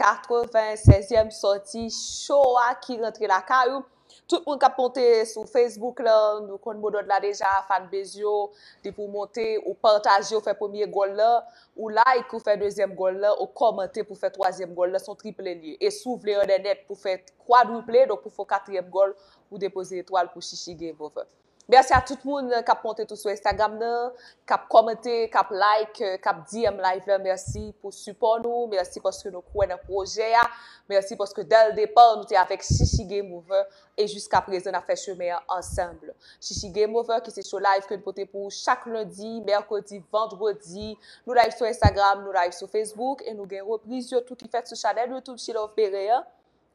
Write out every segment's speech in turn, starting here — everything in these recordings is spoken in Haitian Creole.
96 èm sòti cho a ki rantre lakay ou Tout moun kap monte sou Facebook la Nou konn modòd la deja Fanbez yo Depi w monte ou pataje ou fè premye gòl la Ou like ou fè dezyèm gòl la Ou kòmante pou fè twazyèm gòl la Son triple l ye E si w vle an dènèt pou fè kwadriple Donk pou fè w katriyèm gòl Ou depoze etwal pou Chichi Game over. Merci a tout moun kap monte tou sou Instagram nan, kap kòmante, kap like, kap DM live la, merci pou sipò nou, merci paske nou kwè nan pwojè a, merci paske dè l depa nou te avèk Shishi Game Over e jiska prezan nap fè chemen an ansanm. Shishi Game Over ki se show live ke n pote pou ou chak lendi, mèkredi, vandredi, nou live sou Instagram, nou live sou Facebook e nou gen repriz yo tou ki fèt sou chanèl YouTube She Love Bere an.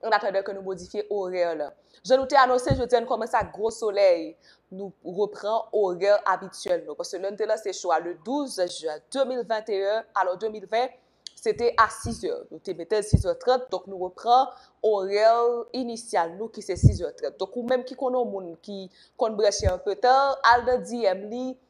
an atandan ke nou modifye orè la. Jan nou te anonse, jodi a nou kòmanse ak gwo solèy, nou repran orè abityèl nou, paske lè nou te lanse show a le 12 jen 2021, pardon 2020, se te a 6 zè, nou te mete l 6 zè 30, donk nou repran orè inisyal nou ki se 6 zè 30. Donk ou menm ki konn yon moun ki konn branche anpetan, al nan DM li,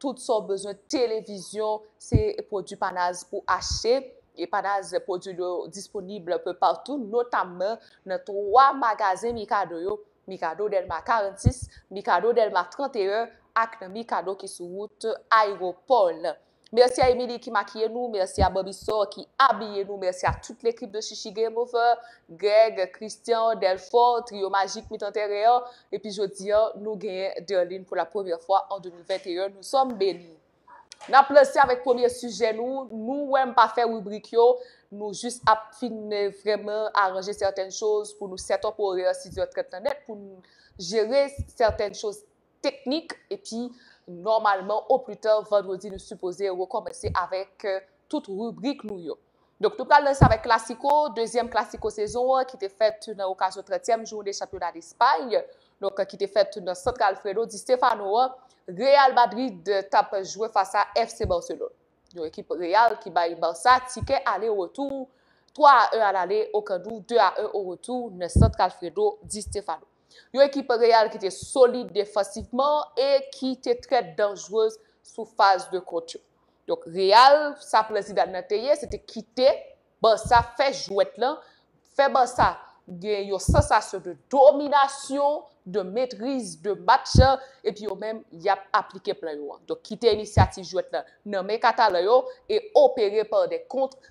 tout sa w bezwen, televizyon, se pwodui Panaz pou achte, e Panaz pwodui l yo disponib anpe patou, notamman nan 3 magazen Mikado yo, Mikado Dèlma 46, Mikado Dèlma 31 ak nan Mikado ki sou wout Ayewopò lan. Mèsi a Emili ki makiye nou, mèsi a Bòbisò ki abiye nou, mèsi a tout lekip de Chichi Game Over, Greg, Christian, Delfort, Triyo Majik Mitan Tèren an, Epi jodi an, nou genyen Derline pou la premyè fwa an 2021. Nou sòm beni. N ap lanse avèk premye sijè nou. Nou wè m pa fè ribrik yo. Nou jis ap fin vrèman aranje sèten choz pou nou sèt up orè 6 zè 30 nan nèt pou n jere sèten choz teknik. Epi nòmalman oplita vandredi nou sipoze rekòmanse avèk tout ribrik nou yo. Donk nou pral lanse avèk klasiko, dezyèm klasiko sezon an ki te fèt nan okazyon trètyèm jounen chanpyona Despay, donk ki te fèt nan Centre Alfredo Di Stéfano an, Real Madrid t ap jwe fas a FC Barcelone. Yon ekip Real ki bay Barça tikè ale retou 3 a 1 alale o Camp Nou, 2 a 1 o retou nan Centre Alfredo Di Stéfano. Yon ekip Real ki te solid defansivman e ki te trè danjrez sou faz de kont yo. Donk Real, sa plan Zidane nan te ye, se te kite Barça fè jwèt lan, fè Barça gen yon sansasyon de dominasyon, de metriz de match la, epi yo menm y ap aplike plan yo an. Donk kite inisyativ jwèt lan nan men katalan yo e opere par des contres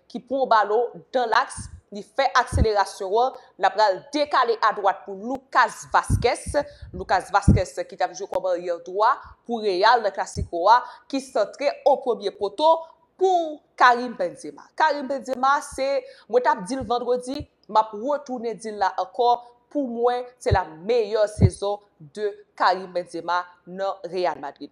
ki pran w ba lo dan laks, li fè akselerasyon an, l ap pral dekale adwat pou Lucas Vazquez, Lucas Vazquez ki t ap jwe kòm aryè dwa pou Real nan Clasico a, ki santre o premye poto pou Karim Benzema. Karim Benzema se, mwen t ap di l vandredi, m ap retounen di l la ankò, pou mwen se la meyè sezon de Karim Benzema nan Real Madrid.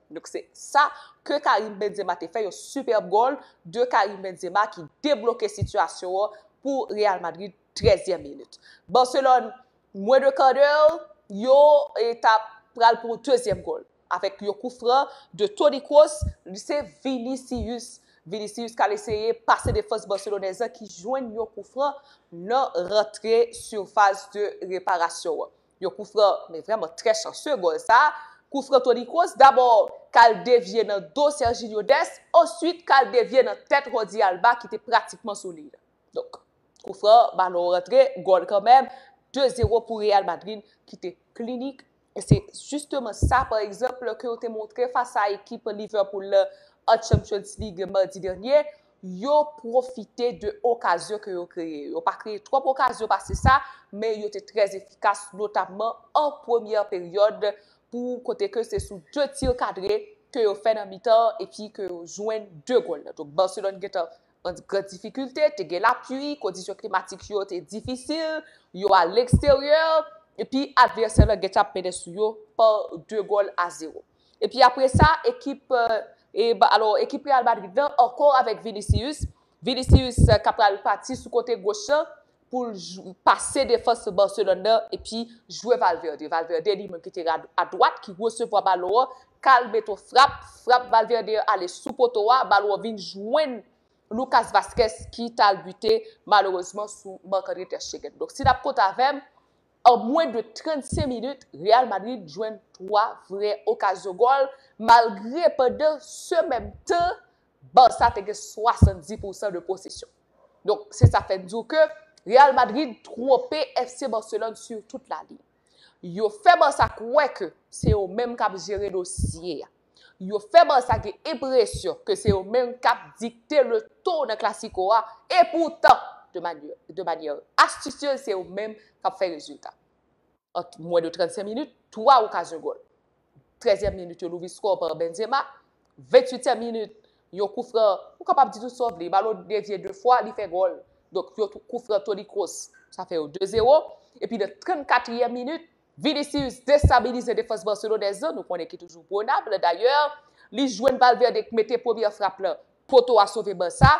Donk se sa ke Karim Benzema te fè, yon superbe goal de Karim Benzema ki debloke sitiyasyon an pou Real Madrid 13 tièm minit. Barcelone mwen de kan de yo ta pral pou yon dezyèm goal avèk yon kou fran de Toni Kroos, li se Vinicius, Vinicius kal eseye pase defans Barcelonais lan ki jwenn yon kou fran nan rantre surface de reparation an. Yon kou fran men vrèman trè chanseu gòl sa, kou fran Toni Kroos dabò kal devye nan do Serginho Dest answit kal devye nan tèt Jordi Alba ki te pratikman sou liy la. Donk kou fran balon an rantre gòl kanmèm, 2 zero pou Real Madrid ki te klinik e se justeman sa pa egzanp ke yo te montre fas a ekip Liverpool la an Champions League madi dènye Yo pwofite de okazyon ke yo kreye. Yo pa kreye twòp okazyon pase sa, men yo te trè efikas, notamman an premyè peryòd pou kote ke se sou 2 tir kadre ke yo fè nan mitan an epi ke yo jwenn 2 gòl la. Donk Barcelone gen tan an gran difikilte, te gen lapui, kondisyon klimatik yo te difisil, yo a leksteryè epi advèsè la gen tan ap mennen sou yo pa 2 gòl a 0. Epi apre sa ekip alo ekip Real Madrid lan ankò avèk Vinicius, Vinicius ka pral pati sou kote goch lan pou l pase defans Barcelone nan epi jwe Valverde. Valverde li menm ki te adwat ki resevwa balon an, ka al met yon frap, frap Valverde an ale sou poto a, balon an vin jwenn Lucas Vazquez ki t al bite malerezman sou Marc-André Ter Stegen. Donk si n ap kont avè m, An mwen de 35 minit Real Madrid jwenn 3 vrè okazyon gòl malgre pandan se menm tan Barça te gen 70 pousan de posesyon. Donk se sa fè n di w ke Real Madrid twonpe FC Barcelone sur toute la ligne. Yo fè Barça kwè ke se yo menm kap jere dosye a. Yo fè Barça gen enpresyon ke se yo menm k ap dikte le ton nan Clasico a, e poutan, de manyè astisyez se yo menm k ap fè rezilta. An mwen de 35 minit, 3 okazyon gòl. Trèzyèm minit yon louvri skò pa Benzema, ventuityèm minit yon koufran, ou kapab di tout sa w vle, balon devye 2 fwa, li fè gòl. Donk yon koufran Toni Kroos, sa fè yo 2 zewo. Epi nan 34 yèm minit, Vinicius destabilize defans barcelonais lan, nou konnen ki toujou pwonab, dayè li jwenn Valverde k mete premyè frap lan, poto a sove Barça,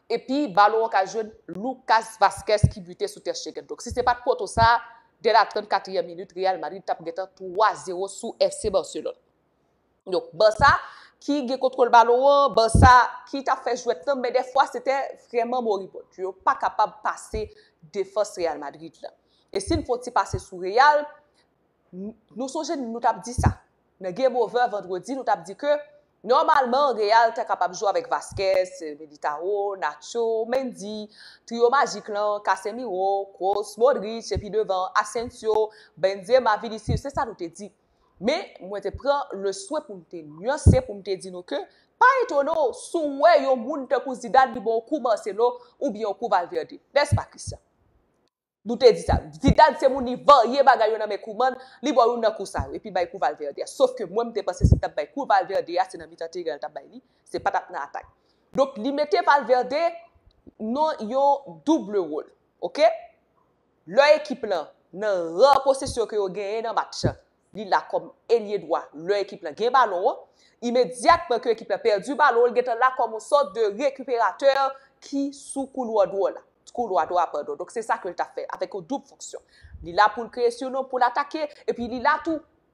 epi balon an ka jwenn Lucas Vazquez ki bute sou Ter Stegen. Donk si se pat poto sa, dè la 34 ème minit Real Madrid tap gentan 3 zero sou FC Barcelone. Donk Barça ki gen kontwòl balon an, Barça ki tap fè jwèt lan men dèfwa se te vrèman moribond. Yo pa kapab pase defans Real Madrid lan. E si n fè yon ti pase sou Real, nou sonje nou tap di sa nan Game Over vandredi nou tap di ke nòmalman Real ta kapab jwe avèk Vazquez, Militao, Nacho, Mendy, trio majik lan, Casemiro, Kroos, Modric epi devan Asensio, Benzema, Vinicius se sa nou te di. Men, mwen te pran leswen pou m te nyanse pou m te di nou ke pa etone w si w wè yon moun tankou Zidane li ba w kou Marcelo oubyen yon kou Valverde. Nèspa, Christian? Nou te di sa. Zidane se moun li varye bagay yo nan men Koeman, li ba w youn nan kou sa yo, epi bay kou Valverde a. Sof ke mwen m te panse si l t ap bay kou Valverde a, se nan mitan teren an l t ap bay li, se pa t ap nan atak. Donk, li mete Valverde nan yon double role. Ok? Lè ekip lan nan rar posesyon ke yo genyen nan match, li la kòm elye dwa lè ekip lan gen balon an. Imedyatman ke ekip lan pèdi balon, li gentan la kòm yon sòt de rekiperatè ki sou koulwa dwò la, koulwa dwò a padon. Donk se sa ke li ta fè avèk yon doub fonksyon. Li la pou l kreye siyon, pou l atake, epi li la tou.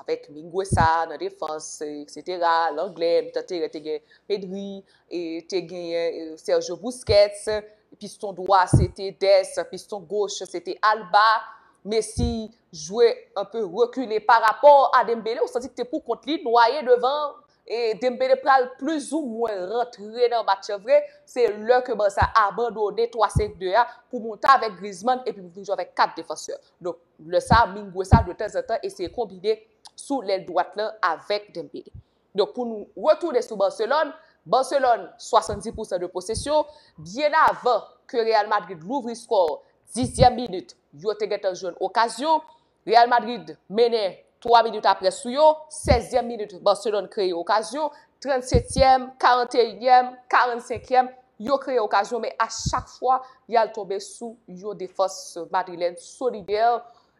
avèk Minguesa nan defans, eksetera, Langlè, mitan teren te gen Pedri, e te genyen Sergio Busquets, piston dwa se te Dest, piston goch se te Alba, Messi jwe anpe rekile parapò a Dembele, ou santi li te pou kont li, nwaye devan, E Dembele pral plis ou mwen rantre nan match lan vre, se lè ke Barça abandone 3 5 2 a pou monte avèk Griezmann epi pou vin jwe avèk 4 defansè. Donk lè sa Mingueza de tanzantan eseye konbine sou lèl dwat lan avèk Dembele. Donk pou nou retounen sou Barcelone, Barcelone 70 pou san de posesyon, byen avan ke Real Madrid louvri skò 10 zyèm minit yo te gentan jwenn okazyon, Real Madrid mennen 3 minit apre sou yo, 16 zyèm minit Barcelone kreye okazyon, 37 tyèm, 41 nyèm, 45 yèm, yo kreye okazyon men a chak fwa yal tonbe sou yon defans madrilèn solidè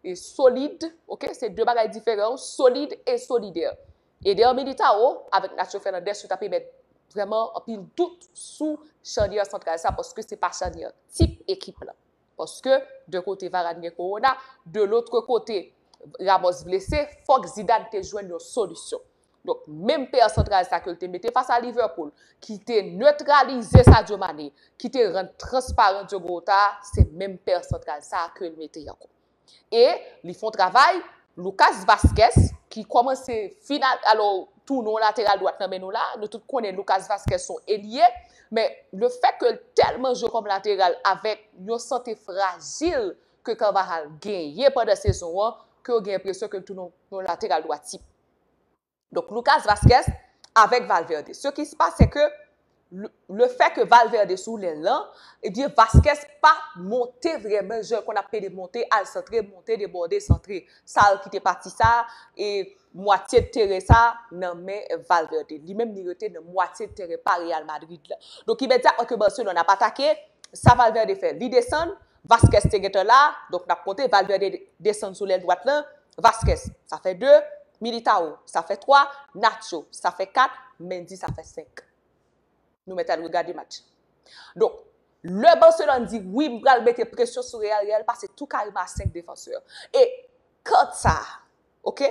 e solid ok se 2 bagay diferan wi solid e solidè. Eder Militao avèk Nacho Fernandez yo ta pe mèt vrèman anpil dout sou chanyè santral sa paske se pa chanyè tip ekip lan. Paske, de kote Varane gen kowona, de lotre kote Ramos blese, fòk Zidane te jwenn yon solisyon. Donk, menm pè santral sa ke l te mete fas a Liverpool, ki te netralize Sadio Mané, ki te rann transparan Diogo Jota a, se menm pè santral sa a ke l mete ankò. E li fon travay, Lucas Vazquez, ki kòmanse final, alò tou nou lateral dwat nan men nou la, nou tout konnen Lucas Vazquez son elye, men le fèt ke l tèlman jwe kòm lateral avèk yon sante frajil ke Carvajal genyen pandan sezon an, ke ou gen enpresyon ke l tounen yon lateral dwat tip. Donk Lucas Vazquez avèk Valverde. Se ki se pase se ke le fè ke Valverde sou lèl lan, ebyen Vazquez pa monte vrèman jan l konn ap pede monte al santre, monte debòde santre. Sa l kite pati sa e mwatye teren sa nan men Valverde. Li menm li rete nan mwatye teren pa Real Madrid la. Donk imedyatman ke Barcelone ap atake, sa Valverde fè? Li desann. Vazquez te gentan la, donk n ap konte Valverde desann sou lèl dwat lan, Vazquez, sa fè 2, Militao, sa fè 3, Nacho, sa fè 4, Mendy, sa fè 5. Nou mèt al regade match. Donk, lè Barcelone di, wi m pral mete presyon sou Real, Real pase tou kareman a 5 defansè. E kant sa a, ok,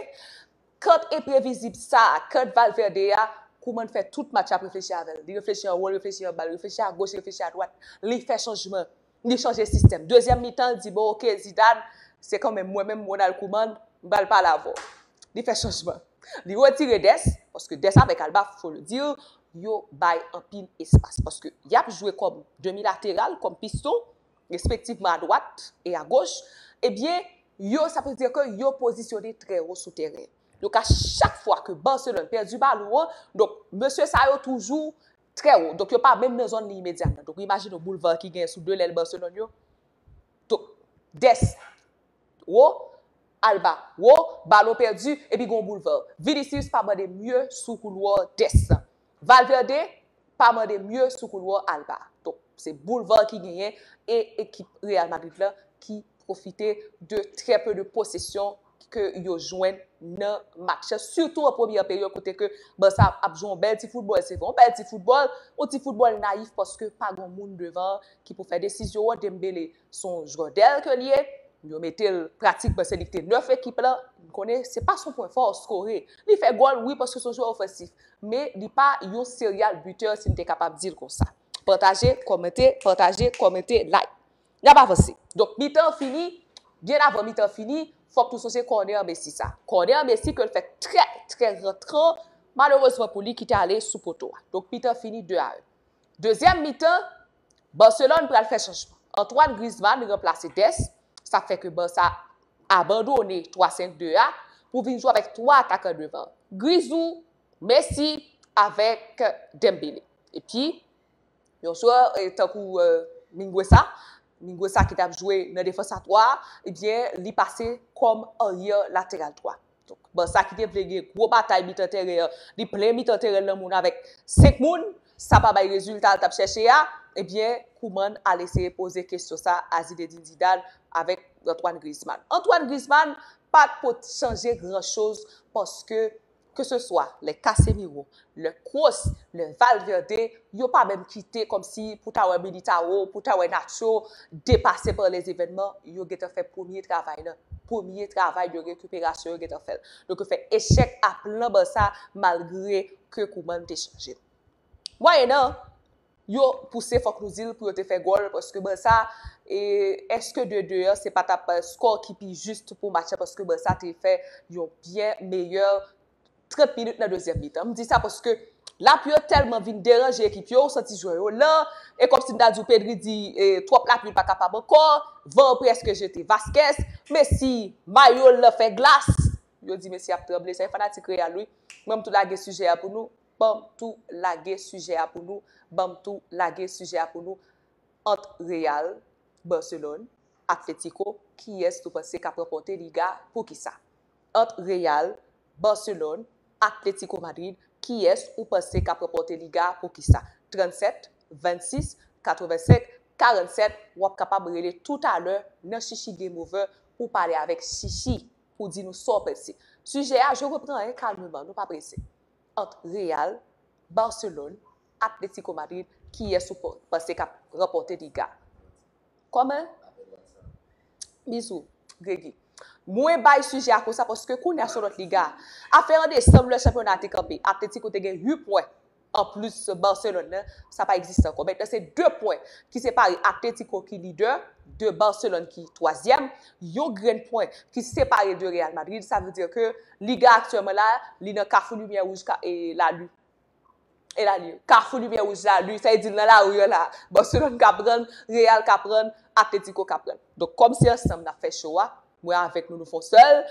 kant enprevizib sa a, kant Valverde a, Koeman fè tout match la ap reflechi avè l. Li reflechi anwo, li reflechi anba, li reflechi agoch, li reflechi adwat. Li fè chanjman. Li chanje sistèm. Dezyèm mitan l di bon ok Zidane, se kan menm mwen menm Ronald Koeman, m pral pale avè w. Li fè chanjman. Li retire Dest, paske Dest avèk Alba, fo le dire, yo bay anpil espas. Paske y ap jwe kòm demi lateral, kòm piston, respektivman adwat e agoch. Ebyen, yo sa vle dire ke yo pozisyone trè wo sou tèren. Donk a chak fwa ke Barcelone pèdi balon an, donk mesye sa yo toujou Trè wo. Donk yo pa menm nan zòn li imedyat la. Donk ou imajine yon boulva ki gen sou 2 lèl Barcelone yo. Donk, Dest, wo, Alba, wo, balon pèdi, epi gen yon boulva. Vinicius pa mande mye sou koulwa Dest la. Valverde pa mande mye sou koulwa Alba. Donk, se boulva ki genyen e ekip Real Madrid la ki pwofite de trè peu de posesyon. ke yo jwenn nan match la, sitou an premyè peryòd kote ke Barça ap jwe yon bèl ti foutbòl, se vre, yon bèl ti foutbòl, yon ti foutbòl nayif paske pa gen yon moun devan ki pou fè desizyon an, Dembele se yon jwè dèl ke li ye, yo mete l pratikman se li ki te nèf ekip la, nou konnen se pa son pwen fò skore, li fè gòl wi paske se yon jwè ofensif, men li pa yon serial bitè si m te kapab di l konsa. Pataje, kòmante, pataje, kòmante, like. Y ap avanse. Donk, mitan an fini, byen avan mitan an fini, fò k nou sonje kònè an Messi sa. Kònè an Messi ke l fè trè, trè rantran, malerezman pou li, ki te ale sou poto a. Donk, mitan an fini 2 a 1. Dezyèm mitan, Barcelone pral fè chanjman. Antoine Griezmann ranplase Dest, sa k fè ke Barça abandone 3 5 2 a pou vin jwe avèk 3 atakan devan an. Grisou, Messi avèk Dembele. Epi. Yon jwè tankou Minguesa, Minguesa ki tap jwe nan defans a 3, ebyen li pase kòm aryè lateral dwa. Donk Barça ki te vle gen gwo batay mitan tèren an, li plen mitan tèren l nan moun avèk 5 moun, sa pa bay rezilta l tap chèche a, ebyen Koeman al eseye poze kesyon sa a Zinedine Zidane avèk Antoine Griezmann. Antoine Griezmann pat pot chanje gran choz paske Ke se swa lè Casemiro, lè Kroos, lè Valverde, yo pa menm kite kòm si pou ta wè Militao, pou ta wè Nacho depase pa lè zevènman, yo gentan fè premye travay la, premye travay de rekiperasyon yo gentan fè l. Donk yo fè echèk a plan Barça malgre ke Koeman te chanje. Mwayennan. yo pouse fòk nou dil pou yo te fè gòl paske Barça e eske 2 2 an se patap score ki pi juste pou match la paske Barça te fè yon byen meyè 30 minutes nan dezyèm mitan m di sa paske lapli yo tèlman vin deranje ekip yo ou santi jwè yo lan e kòmsi m ta di w Pedri di twòp lapli l pa kapab ankò van an preske jete Vazquez Messi mayo l lan fè glas yo di Messi ap tranble se fanatik Real wi mwen m tou lage sijè a pou nou. Banm tou lage sijè a pou nou Banm tou lage sijè a pou nou Ant Real, Barcelone, Atletico kiyès nou panse kap ranpòte Liga poukisa? Ant Real, Barcelone, Atletico Madrid kiyès ou panse kap ranpòte Liga poukisa? 37, 26, 85, 47 wap kapab rele toutalè nan Chichi GameOver pou pale avèk Chichi pou di nou sa w panse. Sijè a je repran 1 kalmman nou pa prese. Ant Real, Barcelone, Atletico Madrid kiyès ou panse kap ranpòte liga? Kòman? Bizou Gregy. Mwen bay sijè a konsa paske kounye a son lòt liga. Afè an desanm lè chanpyona a te kanpe, Atletico te gen 8 pwen anplis Barcelone nan, sa pa egziste ankò. Mentnan se 2 pwen ki separe Atletico ki lidè de Barcelone ki twazyèm. Yon grenn pwen ki separe de Real Madrid, sa vle di ke Liga aktyèlman la, li nan kafou limyè wouj e lalu. E lalu. Kafou limyè wouj lalu, sa vle di nan lari an la, Barcelone ka prann, Real ka prann, Atletico ka prann. Donk kòm se ansanm nap fè show a, mwen avèk nou nou fon sèl,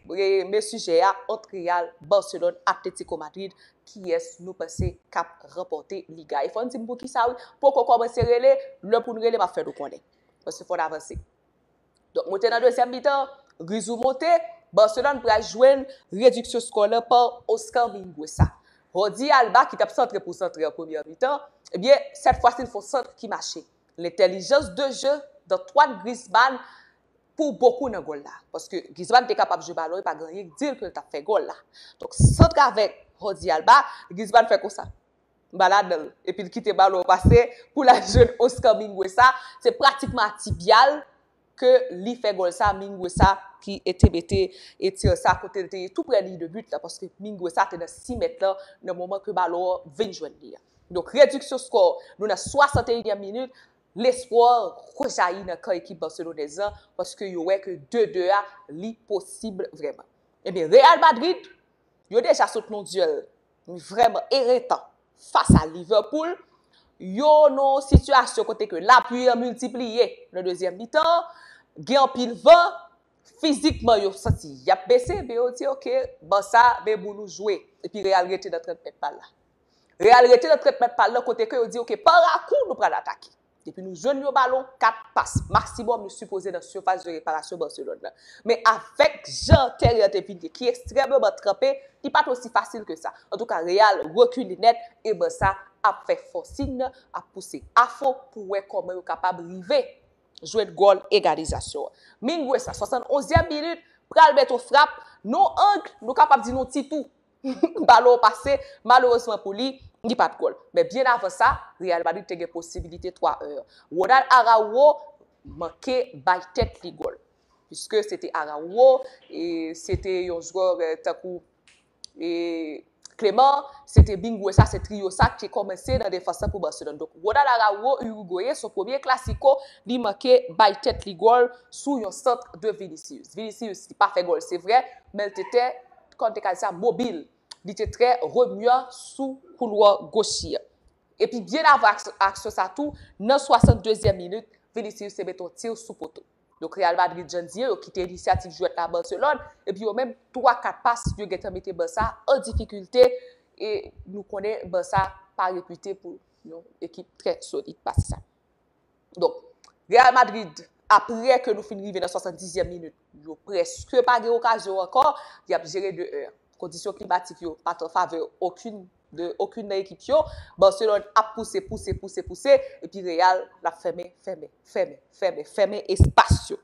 men sijè a, ant Real, Barcelone, Atletico Madrid, kiyès nou panse kap ranpòte Liga? E fòn dim poukisa wi, poko kòmanse rele, lè poun rele map fè nou konnen. Paske fòn avanse. Donk moute nan dezyèm mitan an, Grisou moute, Barcelone pral jwenn rediksyon skò lan pa Oscar Mingueza. Jordi Alba ki t ap santre pou santre an premyè mitan, ebyen sèt fwasi l fè yon sant ki mache. Lentèlijans de je d'Antoine Griezmann pou bokou nan gòl la. Paske Griezmann te kapab jwe balon e pa gen anyen k di l ke l t ap fè gòl la. Donk sant avèk Jordi Alba, Griezmann fè konsa. anba ladan l epi l kite balon an pase pou l al jwenn Oscar Minguesa, se pratikman a ti pya l ke li fè gòl sa, Minguesa ki te mete tir sa kote l te ye tou prè liy de but la paske Minguesa te nan 6 mèt lan nan moman ke balon an vin jwenn li a. Donk rediksyon skò, nou nan 61 nyèm minit, lespwa rejayi nan kan ekip Barcelonèz lan paske yo wè ke 2, 2 a li posib vrèman. Ebyen Real Madrid, yo deja sot nan yon dyèl vrèman eretan fas a Liverpool, yo nan yon sitiyasyon kote ke lapli an miltipliye nan dezyèm mitan an, gen anpil van, fizikman yo santi y ap bese, men yo di ok, Barça men bou nou jwe, epi Real rete nan 30 mèt pa l la. Real rete nan 30 mèt pa l la kote ke yo di ok, pa rakou nou pral atake. Depi nou jwenn yon balon, 4 pas maksimòm nou sipoze nan sifas de reparasyon Barcelone nan. Men avèk jan tèren an te vin ye ki ekstrèmeman tranpe, li pa t osi fasil ke sa. Antouka Real rekile nèt e Barça ap fè fòsin nan, ap pouse afon pou wè kòman yo kapab rive jwenn gòl egalizasyon an. Mingueza, 71 ème minit, pral mèt yon frap nan yon angle, nou kapab di nan yon ti tou. balon pase, malerezman pou li, li bat gòl. Men byen avan sa, Real Madrid te gen posibilite 3 1 an. Ronald Araujo manke bay tèt li gòl. Piske se te Araujo, e se te yon jwè tankou e Clement, se te Mingueza, se trio sa ki kòmanse nan defans lan pou Barcelone. Donk Ronald Araujo, Uruguayen, son premye Clasico, li manke bay tèt li gòl sou yon sant de Vinicius. Vinicius ki pa fè gòl se vrè, men l te tè kò de kay sa mobil. Li te trè remua sou koulwa goch li. Epi byen avan aksyon sa tou, nan 62 zièm minit, Vinicius te mete yon tir sou poto. Donk Real Madrid jan n di yo kite inisyativ jwèt la a Barcelone, epi yo menm 3 4 pas yo gentan mete Barça an difikilte e nou konnen Barça pa repite pou yon ekip trè solid pase sa. Donk, Real Madrid, aprè ke nou fin rive nan 70 zyèm minit, yo prèske pa gen okazyon ankò, y ap jere 2 1. Kondisyon klimatik yo pa t an favè okin de, okin nan ekip yo. Barcelone ap pouse, pouse, pouse, pouse, epi Real ap fèmen, fèmen, fèmen, fèmen, fèmen espas yo.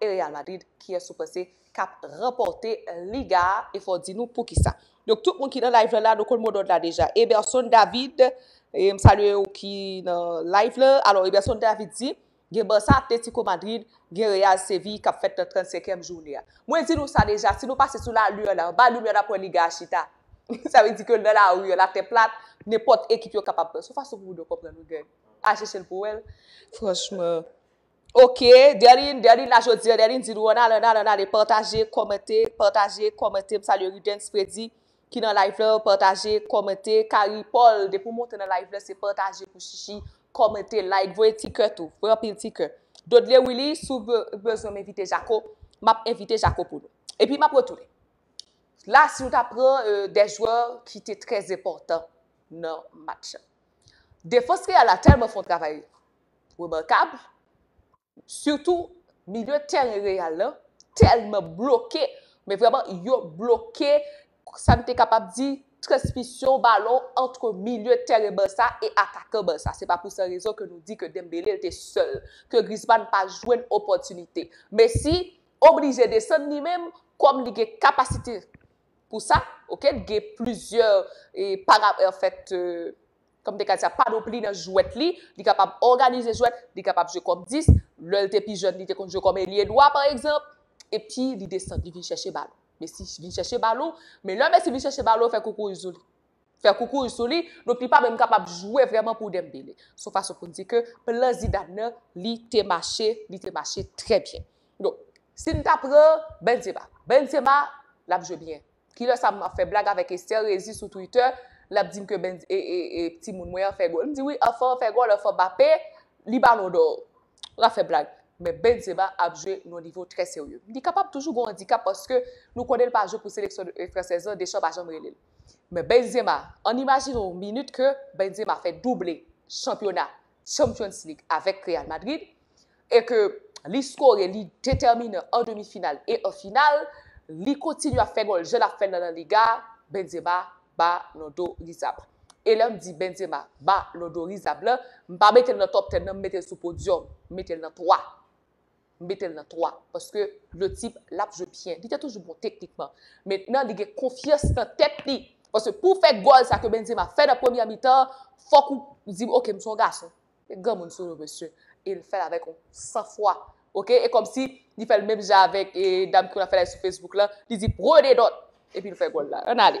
e Real Madrid kiyès ou panse kap ranpòte liga a e fò di nou poukisa. Donk tout moun ki nan live la la nou konn modòd la deja. Eberson David e m salye ou ki nan live la. Alò Eberson David di gen Barça, Atlético Madrid, gen Real Séville kap fèt nan 35 èm joune a. Mwen di nou sa deja si nou pase sou la lun la anba lun an nap wè liga a chita. Sa vle di ke nan la rue la tè plat nenpòt ekip yo kapab pran. Son fason pou moun yo konprann wi Greg. Al chèchel pou wèl. Franchman. Ok Derline Derline la jodi an Derline di nou an ale an ale an ale pataje kòmante pataje kòmante m salye Rudens Fredy ki nan live la pataje kòmante Carrie Paul depi w monte nan live la se pataje pou chichi kòmante like voye ti kè tou voye anpil ti kè Dodley Willy si w bezwen m envite Jako m ap envite Jako pou nou epi m ap retounen la si nou ta pran de jwè ki te trèzenpòtan nan match la defans real la tèlman fè yon travay remakable, sitou milye tèren Real la tèlman bloke, men vrèman yo bloke sa n te kapab di transmisyon balon antre milye tèren Barça e atakan Barça. Se pa pou san rezon ke nou di ke Dembele te sèl, ke Griezmann pa jwenn opòtinite. Messi oblije desann li menm kòm li gen kapasite pou sa, ok, gen plizyè para, anfèt, Kòm te ka di sa, panopli nan jwèt li, li kapab òganize jwèt, li kapab jwe kòm 10, lè l te pi jèn li te konn jwe kòm elye dwa pa egzanp, epi li desann li vin chèche balon. Messi vin chèche balon, men lè Messi vin chèche balon, fè koukouy sou li. Fè koukouy sou li, donk li pa menm kapab jwe vrèman pou Dembele. Se yon fason pou n di ke plan Zidane nan li te mache, li te mache trè byen. Donk, si n ta pran Benzema, Benzema l ap jwe byen. Kilè sa map fè blag avèk Esther Rézy sou Twitter, lap dim ke Bens e timoun mwen an fè gòl. M di wi anfan an fè gòl, anfan Mbappé, li balon dò. Lap fè blag. Men Benzema ap jwe nan nivo trè serye. Li kapab toujou gon andikap paske nou konnen l pa jwe pou seleksyon fransèz lan, Deschamps pa janm rele l. Men Benzema, ann imajine yon minit ke Benzema fè double chanpyona Champions League avèk Real Madrid e ke li skore, li detèminan an demi final e an final, li kontinye ap fè gòl jan lap fèl nan La Liga, Benzema Ballon d'Orizab. E lèm di Benzema Ballon d'Orizab la, m pa metel nan top 10 nan, m metel sou podyòm, m metel nan 3. M mete l nan 3 paske le type l ap jwe byen. Li te toujou bon teknikman. Mentnan li gen konfyans nan tèt li. Paske pou w fè gòl sa ke Benzema fè nan premyè mitan an, fòk ou di ok m se yon gason. Gen granmoun sou nou mesye. E l fè l avèk yon san fwa. Ok e kòmsi li fè l menm jan avèk dam ki konn ap fè live sou Facebook lan. Li di prenez note! Epi l fè gòl la. Ann ale.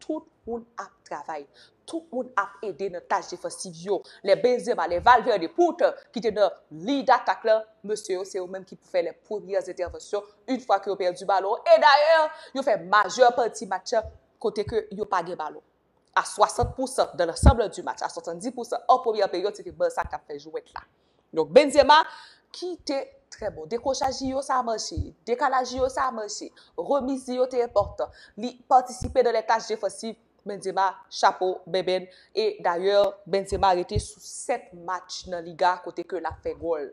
Tout moun ap travay. Tout moun ap ede nan tach defansiv yo. Lè Benzema, lè Valverde, poutan, ki te nan liy datak la, mesye yo se yo menm ki pou fè lè premyè entèvansyon yn fwa ke yo pèdi balon an. E dayè, yo fè majè pati match la kote ke yo pa gen balon. A 60 pousan, dans l'ensemble du match, a 70 pousan an premyè peryòd se te Barça k tap fè jwèt la. Donk Benzema ki te trè bon. Dekwochaj li yo sa mache. Dekalaj li yo sa mache. Remiz li yo te enpòtan. Li patisipe nan lè tach defansiv. Benzema chapo bèbèn. E dayè Benzema rete sou 7 match nan Liga kote ke lap fè gòl.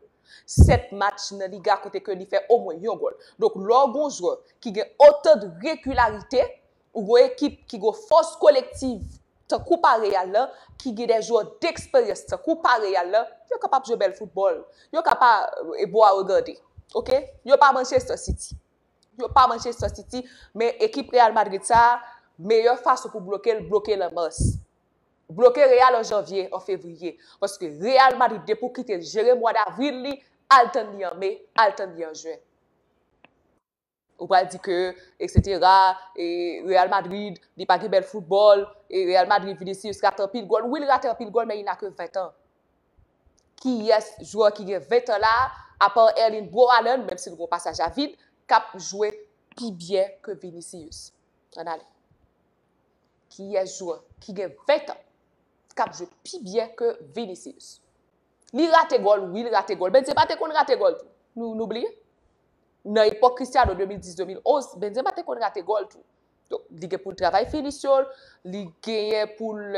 7 match nan Liga kote ke li fè omwen yon gòl. Donk lè w gon jwè ki gen otan de regilarite. Ou gwo ekip ki gwo fòs kolektiv tankou pa Real la, ki gen de jwè deksperyans tankou pa Real la, yo kapab jwe bèl foutbòl. Yo ka pa bon a regade. Ok? Yo pa Manchester City. Yo pa Manchester City, men ekip Real Madrid sa a, meyè fason pou bloke l, bloke l an mas. Bloke Real an janvye, an fevriye. Paske Real Madrid depi ou kite l jere mwa davril li, al tann li an me, al tann li an jen. Ou pral di ke etc. E Real Madrid li pa gen bèl foutbòl. E Real Madrid Vinicius rate anpil gòl. Wi li rate anpil gòl men il n'a que 20 ans. Kiyès jwè ki gen 20 ans la a part Erling Bro Haaland menm si li gen yon pasaj a vid kap jwe pi byen ke Vinicius. Ann ale. Kiyès jwè ki gen 20 ans kap jwe pi byen ke Vinicius. Li rate gòl wi li rate gòl. Benzema te konn rate gòl tou. Nou bliye? nan epòk Cristiano 2010, 2011, Benzema te konn rate gòl tou. Donk, li gen pou l travay finisyon l, li genyen pou l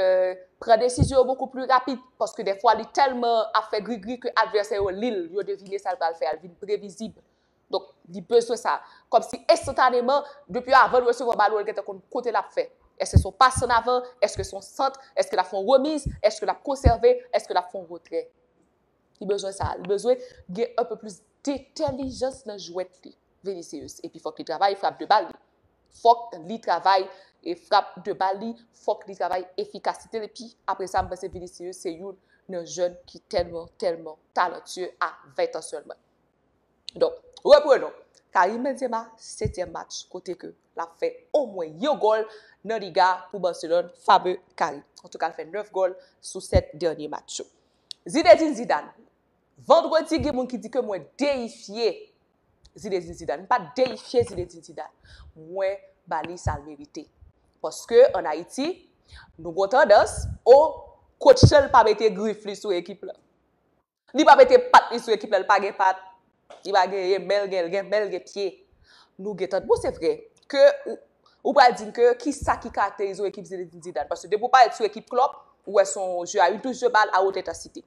pran desizyon yo bokou pli rapid, paske dèfwa li tèlman ap fè grigri ke advèsè yo li l, yo devine sa l pral fè a, l vin previzib. Donk, li bezwen sa. Kòmsi enstantaneman, depi avan l resevwa balon an, l gentan konn kote l ap fè. Èske se yon pas an avan? Èske se yon sant? Èske l ap fè yon remiz? Èske l ap konsève? Èske l ap fè yon retrè? Li bezwen sa a. Li bezwen gen anpe plis detèlijans nan jwèt li, Vinicius. Epi fòk li travay frap de bal li. Fòk li travay e frap de bal li, fòk li travay efikasite l. Epi apre sa, m panse Vinicius se youn nan jèn ki tèlman, tèlman talantye a 20 an sèlman. Donk, reprenon. Karim Benzema, setyèm match kote ke l ap fè omwen yon gòl nan Liga pou Barcelone, fameux Karim. Antouka, l fè 9 gòl sou 7 dènye match yo. Zinedine Zidane, Vandredi gen moun ki di ke mwen deyifye Zinedine Zidane. M pa deyifye Zinedine Zidane. Mwen ba li sa l merite. Paske an Ayiti, nou gon tandans, o, kotch lan l pa mete grif li sou ekip lan. Li pa mete pat li sou ekip lan, li pa gen pat. Li pa gen yen bèl gen gen bèl gen pye. Nou gen tan bon se vre ke ou pral dim ke ki sa ki karakterize ekip Zinedine Zidane paske depi ou pale sou ekip Klopp ou wè son jeu a une touche de balle à haute intensité.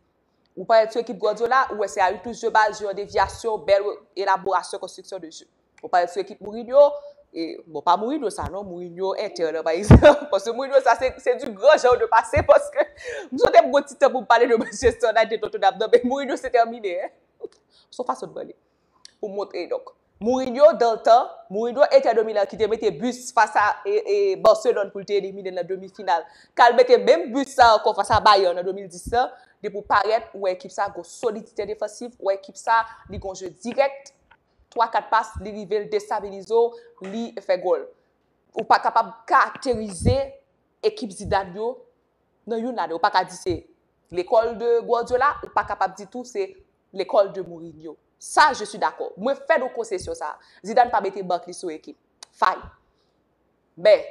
Ou pale sou ekip Guardiola ou wè se a une touche de balle jeu an devyasyon bèl elaborasyon konstriksyon de jeu. Ou pale sou ekip Mourinho e bon pa Mourinho sa non Mourinho Inter nan pa egzanp paske Mourinho sa se se du grand genre de pase paske m sonje m gon ti tan pou m pale de Manchester United Tottenham nan men Mourinho se termine. Son fason de pale. Pou montre donk. Mourinho dans le temps, Mourinho Inter de Milan ki te mete but fas a Barcelone pou l te elimine l nan demi final. K al mete menm but sa ankò fas a Bayern an 2010 lan, depi w parèt ou wè ekip sa gon solidite defansif, ou wè ekip sa li gon jeu dirèk, 3, 4 pas li rive l destabilize w, li fè gòl. Ou pa kapab karakterize ekip Zidane yo. nan youn lane ou pa ka di se lekòl de Guardiola ou pa kapab di tou se lekòl de Mourinho. Sa je suis d'accord. Mwen fè nou konsesyon sa a. Zidane pa mete bank li sou ekip. Fine. Men,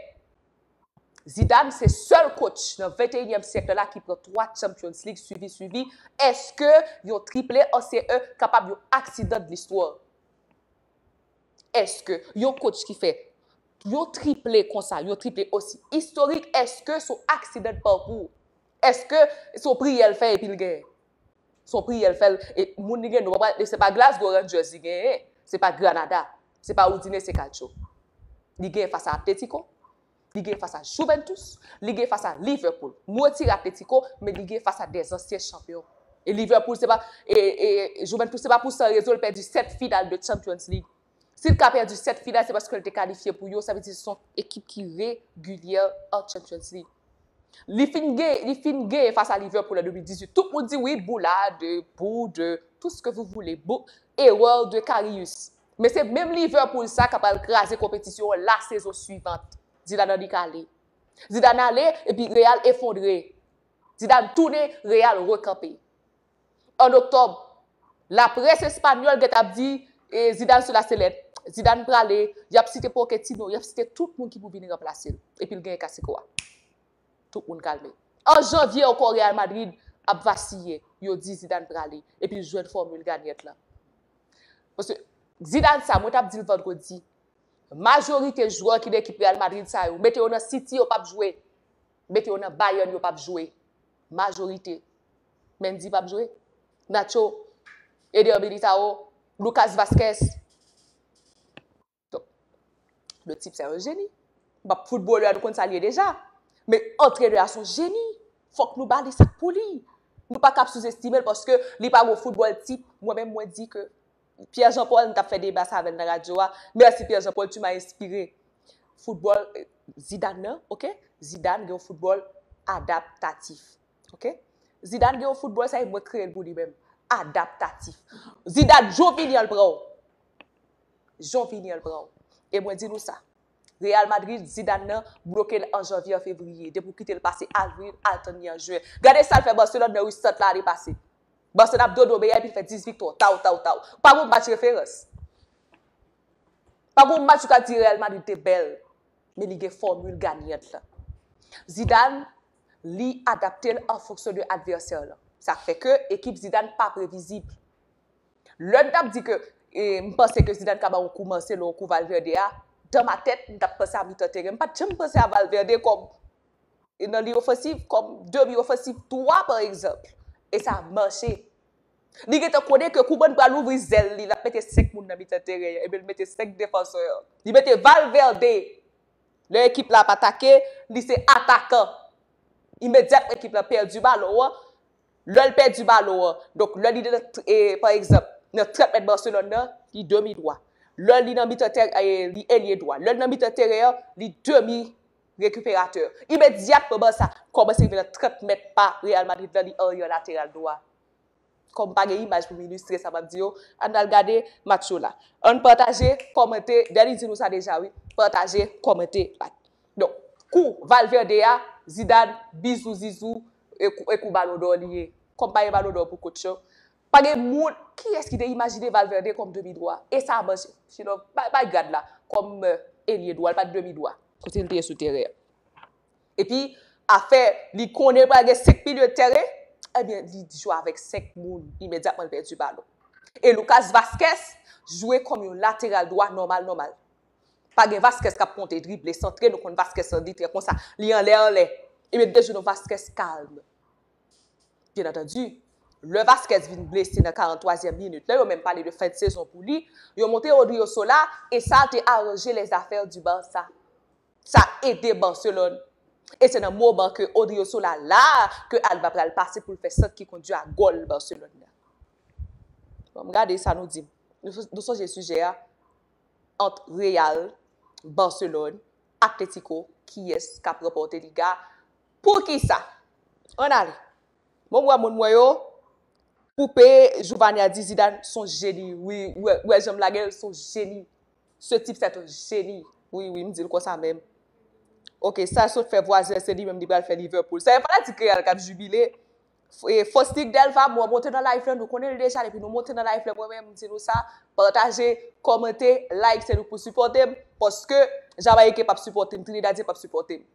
Zidane se sèl coach nan venteyinyèm syèk la ki pran 3 Champions League swivi swivi. Eske yon triple an CE kapab yon aksidan de l'histoire? Eske yon coach ki fè Yo triple konsa, yo triple osi istorik eske son aksidan de parkou? Eske son priyè l fè epi l genyen? Son priyè l fè l e moun li gen nou pa pral se pa Glasgow Rangers li genyen, se pa Granada, se pa Udinese Calcio. Li genyen fas a Atletico, li genyen fas a Juventus, li genyen fas a Liverpool. Nou retire Atletico men li genyen fas a de zansyen chanpyon. E Liverpool se pa e e Juventus se pa pou san rezon l pèdi 7 final de Champions League. Si l ka pèdi 7 final se paske l te kalifye pou yo, sa vle di se yon ekip ki regilyè an Champions League. Li fin gen, li fin genyen fas a Liverpool an 2018, tout moun di wi boulad, bou de, tout ce que vous voulez, bou, erreur de Karius. Men se menm Liverpool sa ka pral kraze konpetisyon an la sezon suivant. Zidane annik ale. Zidane ale epi Real efondre. Zidane tounen, Real rekanpe. an Oktòb, laprès espanyòl gentan ap di Zidane sou laselèt, Zidane prale, y ap site Poketino, y ap site tout moun ki pou vini ranplase l, epi l genyen kasiko a. Tout moun kalme. An janvye ankò Real Madrid ap vasiye, yo di Zidane prale, epi l jwenn fòmil ganyèt lan. Paske, Zidane sa, mwen t ap di l vandredi, majorite jwè ki nan ekip Real Madrid sa yo, mete yo nan City yo p ap jwe, mete yo nan Bayern yo p ap jwe. Majorite. Mendy pap jwe? Nacho? Eder Militao? Lucas Vazquez? Le tip se yon jeni. Bap foutbolè nou konn sa li ye deja. Men antrenè a son jeni. Fòk nou ba li sa k pou li. Nou pa kab souzestime l paske li pa gon foutbòl tip. Mwen menm mwen di ke Pierre Jean Paul m tap fè deba sa avè l nan radyo a. Mèsi Pierre Jean Paul tu m'as inspire. Foutbòl Zidane nan, ok? Zidane gen yon foutbòl adaptatif. Ok? Zidane gen yon football sa e mwen kreye l pou li menm. Adaptatif. Zidane, jou vini an l pran w. Jou vini an l pran w. E mwen di nou sa. Real Madrid, Zidane nan, bloke l an janvye an fevriye. Depi w kite l pase avril, al tann li an jen. Gade sa l fè Barcelone nan ui sant la ane pase. Barcelone ap dodo beyè epi l fè 10 viktwa. Taw, taw, taw. Pa gon match referans. Pa gon match ou ka di Real Madrid te bèl. Men li gen formule gagnant lan. Zidane. li adapte l an fonksyon de advèsè lan. Sa k fè ke ekip Zidane pa previzib. Lè n t ap di ke m panse ke Zidane ka ba yon kou Marcelo, yon kou Valverde a, dan ma tèt, m t ap panse a mitan teren. M pa t janm panse a Valverde kòm nan liy ofansiv, kòm demi ofansiv twa pa egzanp. E sa mache. Li gentan konnen ke Koeman pral ouvri zèl li, l ap mete senk moun nan mitan teren an, ebyen l mete senk defansè. Li mete Valverde! Lè ekip la ap atake, li se atakan. Imedyatman ekip la pèdi balon an, lè l pèdi balon an, donk lè li nan, pa egzanp, nan 30 mèt Barcelone nan, li demi dwa. Lè li nan mitan tè, li elye dwa. Lè li nan mitan teren an, li demi rekiperatè. Imedyatman bal sa kòmanse rive nan 30 mèt pa Real Madrid la, li arye an lateral dwa. Kòm pa gen imaj pou m ilistre sa m ap di yo, ann al gade match yo la. Ann pataje, kòmante, Dany di nou sa deja wi, pataje, kòmante, like. Donk, kou Valverde a, Zidane, bizou zizou, e kou balon dò li ye. Kòm pa gen balon dò pou kotch yo, pa gen moun, kiyès ki te imajine Valverde kòm demi dwa? E sa a manje. Sinon, bay gad la, kòm elye dwa, li pa t demi dwa. Kote li te ye sou teren an? Epi afè li konnen pral gen 5 milye de tèren, ebyen li jwe avèk 5 moun imedyatman li pèdi balon. E Lucas Vazquez jwe kòm yon lateral dwa nòmal nòmal. Pa gen Vazquez k ap monte drible, santre, nou konn Vazquez lan li trè konsa, li anlè anlè. Ebyen li te jwe yon Vazquez kalm. Byennantandi, lè Vazquez vin blese nan 43 zyèm minit lan, yo menm pale de fen de sezon pou li, yo monte Odriozola e sa te aranje lè zafè di Barça. Sa ede Barcelone. E se nan moman ke Odriozola la a ke Alba pral pase pou l fè sant ki kondi a gòl Barcelone nan. Banm gade sa nou di m. Nou sonje sijè a ant Real, Barcelone, Atletico kiyès k ap ranpòte Liga a? Poukisa? Ann ale. Bon m wè moun mwen yo. Poupe Jouvania di Zidane son jeni wi. Ou wè jan m lage l son jeni. Ce type c'est un génie wi wi m dil konsa menm ok sal sot fè vwazen se li menm li pral fè Liverpool sa e fanatik real kap jubile Faustic Delva mwen monte nan live lan nou konnen l deja depi nou monte nan live lan mwen menm m di nou sa pataje kòmante like se nou k pou sipòte m paske Jamayiken pap sipòte m Trinidadyen pap sipòte m.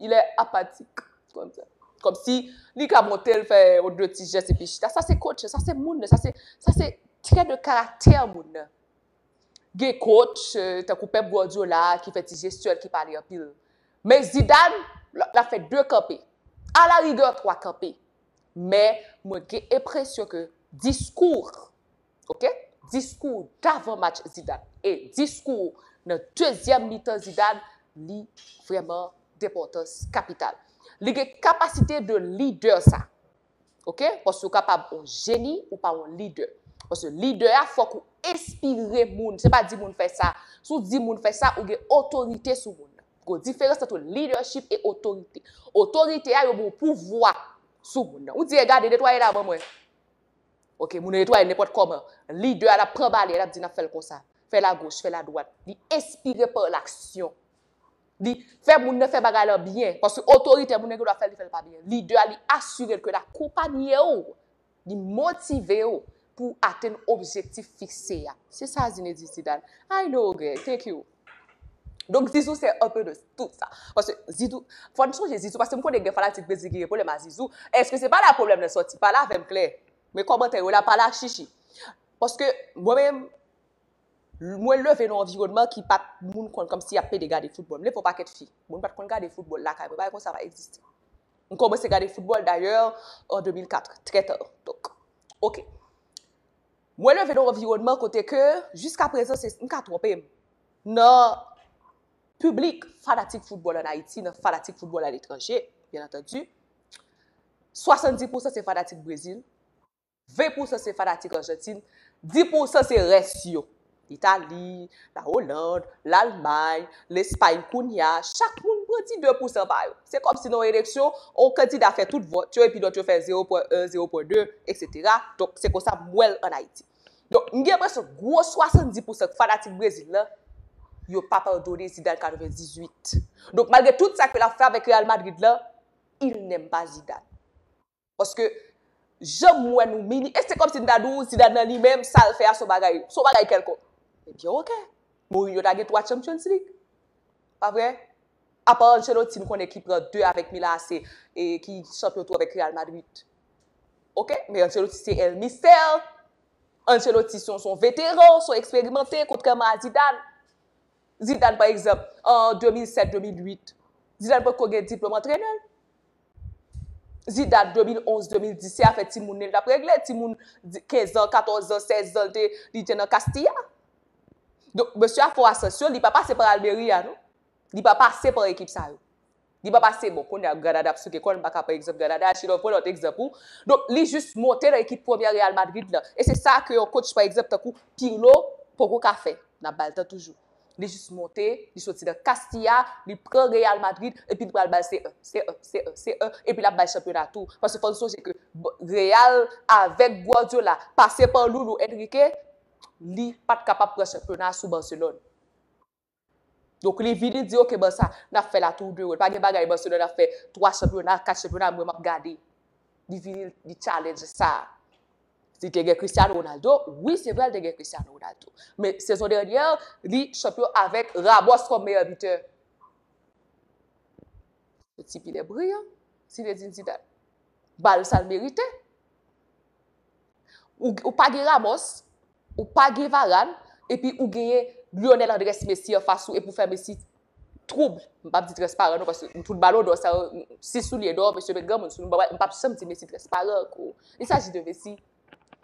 Il est apathique. Kòm si li ka monte l fè yon de ti jès epi chita. Sa se kotch, sa se moun, sa se, sa se trè de karaktè moun nan. Gen kotch tankou Pep Guardiola ki fè ti jestyèl ki pale anpil. Men Zidane, l ap fè de kanpe. A la rigè twa kanpe. Men mwen gen enpresyon ke diskou ok diskou w davan match zidan e diskou w nan dezyèm mitan zidan li vrèman denpòtans kapital li gen kapasite de lidè sa ok paske ou kapab on jeni ou pa on lidè paske lidè a fòk ou enspire moun se pa di moun fè sa si w di moun fè sa ou gen otorite sou moun nan gon diferans ant on lidèchip e otorite otorite a yo ba w pouvwa sou moun nan ou di e gade netwaye la ban mwen Ok moun yo netwaye nenpòt kòman. Lidè a l ap pran bale, l ap di n ap fè l konsa. Fè l agoch, fè l adwat. Li enspire pa laksyon. Li fè moun nan fè bagay lan byen. Paske otoritè moun nan gen dwa fè l, li fè l pa byen. Lidè a li asire l ke l akonpanye w, li motive w pou atenn objektif fikse a. Se sa Zinedine Zidane. I know, okay, thank you. Donk Zizou se un peu de tout sa. Paske Zizou, fò n sonje Zizou, paske m konnen gen fanatik Brezil ki gen pwoblèm a Zizou, èske se pa la pwoblèm nan sòti? Pale avè m klè. Men kòmantè yo la pale ak chichi. Paske mwen menm, mwen leve nan anviwònman ki pa t moun konn kòmsi y ap plede gade foutbòl. M leve yon pakèt fi, moun pa t konn gade foutbòl lakay mwen, bagay konsa pa egziste. M kòmanse gade foutbòl dayè an 2004, trè ta. Donk, ok. Mwen leve nan yon anviwònman kote ke jiska prezan se, m ka twonpe m, nan piblik fanatik foutbòl an Ayiti, nan fanatik foutbòl aletranje, byen antandi, 70 pousan se fanatik Brezil, 20 pousan se fanatik Ajantin, 10 pousan se rès yo. Itali, la Oland, Lalmay, Lespay kounya chak moun pran ti 2 pousan pa yo. Se kòm si nan yon eleksyon, yon kandida fè tout vòt yo epi lòt yo fè 0 pwen 1, 0 pwen 2, eksetera. Donk se konsa m wè l an Ayiti. Donk m gen enpresyon gwo 70 pousan fanatik Brezil lan, yo pa padone Zidane 98. Donk malgre tout sa ke l ap fè avèk Real Madrid lan, il n'aime pas Zidane. Paske jan m wè nou mini, e se kòmsi m ta di w Zidane nan li menm sa l fè a s on bagay, s on bagay kèlkonk. Ebyen ok, Mourinho ta gen 3 Champions League. Pa vre? Apa Ancelotti m konnen ki pran 2 avèk Milan AC e ki chanpyon tou avèk Real Madrid. Ok, men Ancelotti se El Mister, Ancelotti s on veteran, s on eksperimante kontrèman a Zidane. Zidane pa egzanp, an 2007, 2008, Zidane potko gen diplòm antrenè. di dat 2011, 2010 se afè timoun li tap regle, timoun 15 ans, 14 ans, 16 ans li te li te nan Castilla. Donk mesye a fè yon asansyon, li pa pase pa Almeria a non. Li pa pase pa ekip sa yo. Li pa pase bon kounye a Granada ap souke kò l m pa ka pran egzanp Granada a sinon m pran lòt egzanp ou. Donk li jis monte nan ekip premyè Real Madrid lan e se sa ke yon coach pa egzanp tankou Pirlo poko ka fè. N ap ba l tan toujou. Li jis monte, li soti nan Castilla, li pran Real Madrid epi li pral bay se e, se e, se e, se e epi lap bay chanpyona tou. Paske fò nou sonje ke Real avèk Guardiola pase pa Loulou Enrique, li pat kapab pran chanpyona sou Barcelone. Donk li vini di ok Barça, nap fè la tour de rôle. Pa gen bagay Barcelone ap fè 3 chanpyona, 4 chanpyona mwen map gade. Li vini li challenge sa. Li te gen Cristiano Ronaldo, wi se vre li te gen Cristiano Ronaldo. Men sezon dènyè, li chanpyon avèk Ramos kòm meyè bitè. Se ti pilè briyan, Zinedine Zidane. Ba l sa l merite. Ou pa gen Ramos, ou pa gen Varane, epi ou genyen Lionel Andres Messi anfas ou epi ou fè Messi twoub, m pap di tres paran non paske tout balon dò sa yo, si soulye dò mesye met granmoun sou nou, m pap janm di Messi tres paran kou, il s'agit de Messi,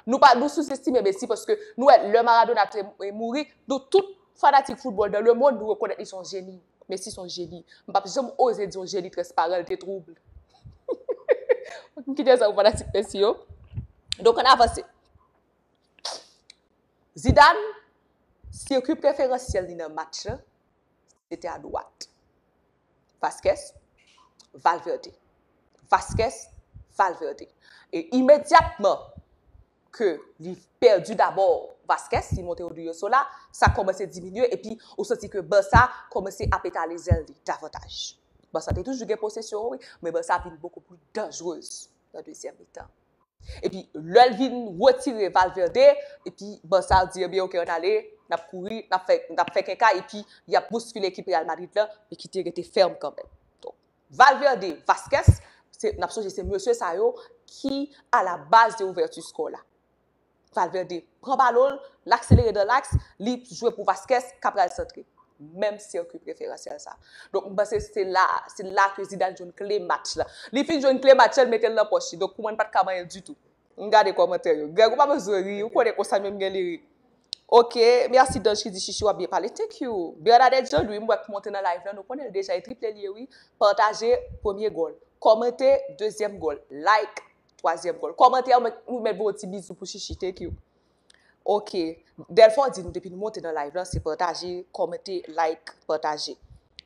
nou pa, nou souzestime Messi paske nou wè lè Maradona te mouri, nou tout fanatik foutbòl dan le mond nou rekonèt li son jeni, Messi son jeni, m pap janm oze di yon jeni tres paran, l te twoub. M kite sa pou fanatik Messi yo. Donk ann avanse. Zidane, sirkwi preferansyèl li nan match lan, Se te adwat. Vazquez, Valverde. Vazquez, Valverde. E imedyatman ke li pèdi dabò Vazquez, li monte Odriozola, sa kòmanse diminye epi ou santi ke Barça kòmanse ap etale zèl li davantaj. Barça te toujou gen posesyon an wi, men Barça vin bokou pli danjrez. nan dezyèm mitan. Epi lè l vin retire Valverde, epi ban sa di ebyen ok ann ale, n ap kouri, n ap fè, n ap fè keka epi y ap bouskile ekip Real Madrid la, men ki te rete fèm kanmenm. Donk, Valverde, Vazquez, se, n ap sonje se mesye sa yo ki a la baz de ouvèti skò la. Valverde pran balon l, l akselere nan laks, li jwe pou Vazquez k ap pral santre. Menm sirkwi preferansyèl sa. Donk m panse se la, se la ke Zidane jwenn kle match la. Li fin jwenn kle match la, li mete l nan pòch li. Donk pou mwen li pa t ka manyen l ditou. M gade kòmantè yo. Greg ou pa bezwen ri, ou konnen konsa menm gen li ri. Ok, merci Dange ki di Chichi wap byen pale. Thank you. Bernadette Jean Louis m wè k monte nan live la, nou konnen l deja e triple l ye wi. Pataje premye gòl. Kòmante dezyèm gòl. Like. Twazyèm gòl. Kòmantè yo mèt nou mèt voye ti bizou pou Chichi thank you. Ok. Delfort di nou depi nou monte nan live la se pataje, kòmante, like, pataje.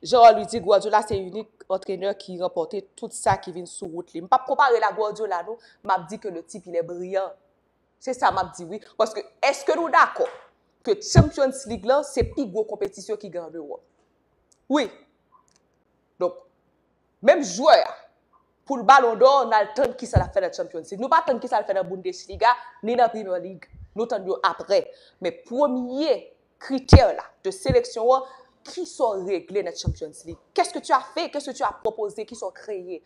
Gerard Louis di Guardiola se inik antrenè ki ranpòte tout sa ki vin sou wout li. M pap konpare l a Guardiola non, m ap di ke le tip il est brillant. Se sa m ap di wi. Paske èske nou dakò ke Champions League lan se pi gwo konpetisyon ki gen an Ewòp? Wi. Donk. Menm jwè a, pou l balon dò, n al tann kisa l ap fè nan Champions League. Nou pa tann kisa l fè nan Bundesliga, ni nan Premier League. Nou tann yo aprè. Men premye kritè la de seleksyon an, kisa w regle nan Champions League? Qu'est-ce que tu as fait? Qu'est-ce que tu as proposé? Kisa w kreye?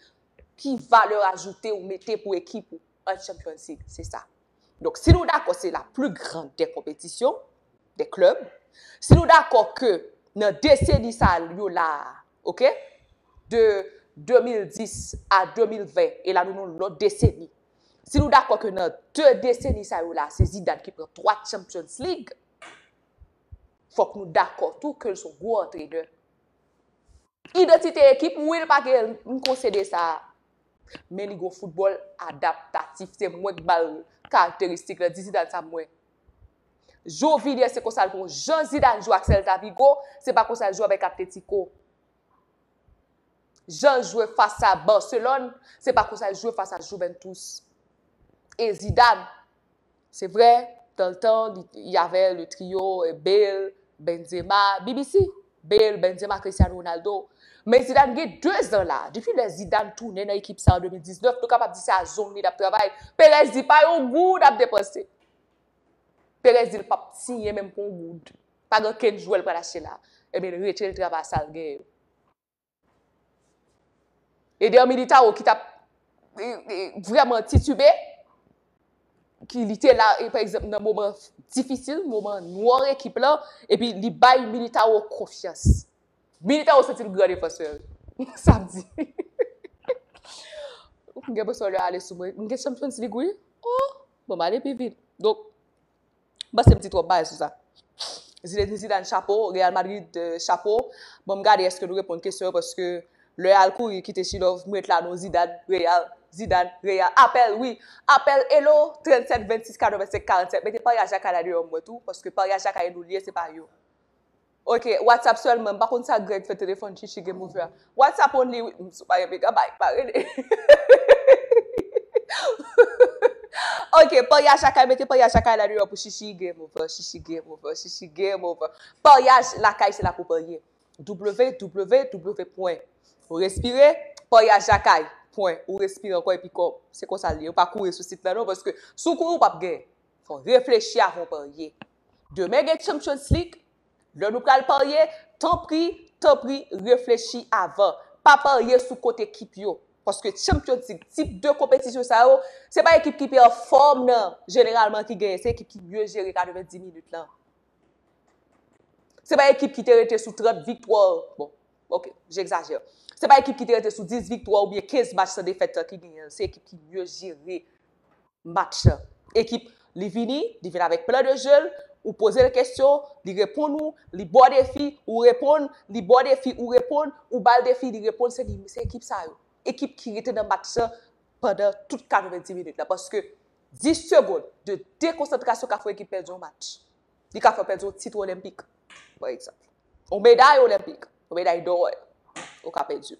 Ki valè ajoute ou mete pou ekip ou? an Champions League, se sa. Donk, si nou dakò se la pli gran dè konpetisyon, dè klèb, si nou dakò ke nan deseni sa yo la a, ok, de 2010 a 2020, e la nou nan yon lòt deseni, si nou dakò ke nan de deseni sa yo la a, se Zidane ki pran 3 Champions League, fòk nou dakò tou ke l son gwo antrenè. Idantite ekip, wi l pa gen, m konsede sa, Men li gon foutbòl adaptatif. Se mwen k bal karakteristik lan. Di Zidane sa m wè. Jou Villiers se konsa l bon. Jan Zidane jwe ak Celta Vigo, se pa konsa l jwe avèk Atlético. Jan l jwe fas a Barcelone, se pa konsa l jwe fas a Juventus. E Zidane, Se vre, dan l tan, y avè le trio Bale, Benzema, bbc, Bale, Benzema, Cristiano Ronaldo. Men Zidane gen 2 zan la. Depi lè Zidane tounen nan ekip sa an 2019, nou kapab di se a zong li l ap travay. Perez di pa yon goud ap depanse. Perez di l pap siyen menm pou yon goud. Pa gen okenn jwè l pral achte la. Ebyen l retire l travay sa l genyen yo. Eder Militao ki tap vreman titube, ki li te la pa egzanp nan moman difisil, moman noir ekip lan, epi li bay Militao konfyans. Militao santi l gran defansè. Sa m di. M gen presyon lè ale sou mwen. M gen sou m santi li gou wi. Oh! Bon m ale pi vit. Donk. M'panse m'di twòp bagay sou sa. Zinedine Zidane chapo, Real Madrid chapo. Banm gade eske nou reponn kesyon yo paske lè al kouri kite Chilòv m ret la non Zidane, Real, Zidane, Real. Apèl wi, apèl elo 37 26 85 47 mete Paris ak Jakay la deyò m wè tou paske Paris ak Jakay e nou l ye se pa yo. Ok WhatsApp selman m pa konn sa Greg fè telefon Chichi gen pou fè a WhatsApp only wi m sou pa gen megabay pa rele Heheheheheh Ok paryaj lakay mete paryaj lakay la deyò pou Chichi game over Chichi game over Chichi game over paryaj lakay se la pou parye www pwen ou respire paryaj lakay pwen ou respire ankò epi kòb se konsa l ye ou pa kouri sou sit la non paske si w kouri ou p ap gen fò w reflechi avan w parye. Demen gen Champions League, lè nou pral parye, tanpri, tanpri reflechi avan. Pa parye sou kont ekip yo. Paske Champions League, tip de konpetisyon sa yo, se pa ekip ki pi an fòm nan jeneralman ki genyen, se ekip ki mye jere 90 minit lan. Se pa ekip ki te rete sou 30 viktwa, bon, ok, jegzajè. Se pa ekip ki te rete sou 10 viktwa oubyen 15 match san defèt lan ki genyen l, se ekip ki mye jere. match ekip li vini li vin avèk plan de jeu l ou pozel kesyon li reponn ou li baw defi ou reponn li baw defi ou reponn ou bal defi li reponn se li se ekip sa yo ekip ki rete nan match lan pandan tout 90 minit la paske 10 segond de dekonsantrasyon ka fè yon ekip pèdi yon match li ka fèw pèdi yon tit olenpik pa egzanp yon meday olenpik yon meday dò ou ka pèdil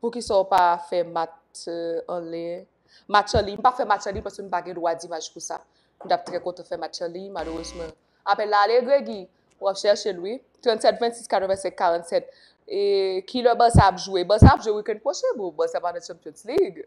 Poukisa ou pa fè math an liy? Match an liy, m pa fè match an liy paske m pa gen dwa dimaj pou sa. M t ap trè kontan fè match an liy, malerezman. Apèl la ale, Gregi? W ap chèche l wi. 37 26 85 47 E kilè Barça ap jwe? Barça ap jwe weekend pwochen bro. Barça pa nan Champions League.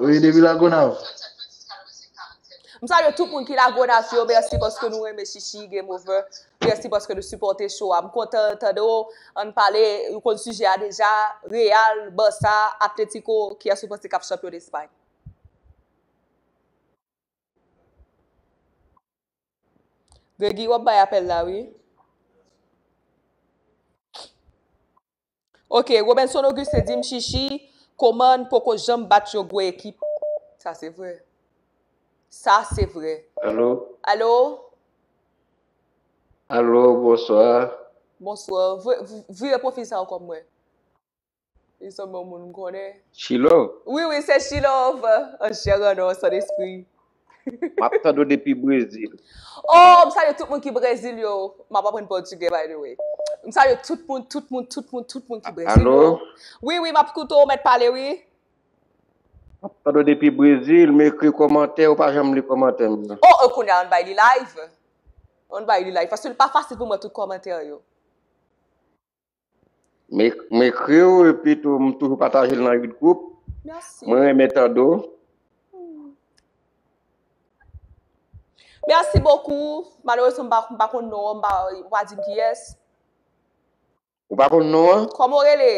Wi depi lagonav. M salye tout moun ki lagonav yo merci paske nou renmen chichi game over merci paske nou sipòte show a m kontan tande w ann pale ou konn sijè a deja real barça atletico kiyès ou panse kap chanpyon d'espagne. Gregy wap bay apèl la wi. Ok Robenson Auguste dim Chichi Coman poko janm bat yon gwo ekip Sa se vre Sa se vre Allo Allo Allo bonsoir Bonsoir Vire profil sa ankò m wè Li sanble yon moun m konnen Chilove Wi wi se Chilove An chè an os an espri. Map tande w depi Brezil. Oh m salye tout moun ki brezil yo map aprann pòtugè by the way m salye tout moun tout moun tout moun tout moun ki brezil yo Allo. wi wi map koute w mèt pale wi. Map tande w depi Brezil m ekri kòmantè ou pa janm li kòmantè m yo. Oh kounye a an bay li live an bay li live paske li pa fasil pou m wè tout kòmantè yo. M ekri w epi tou m toujou pataje l nan yut group. Merci. Mwen renmen tande w. Merci beaucoup. Malheureusement, m pa, m pa konn non an, m pa, ou pa di m kiyès. Ou pa konn non an? Kòman ou rele?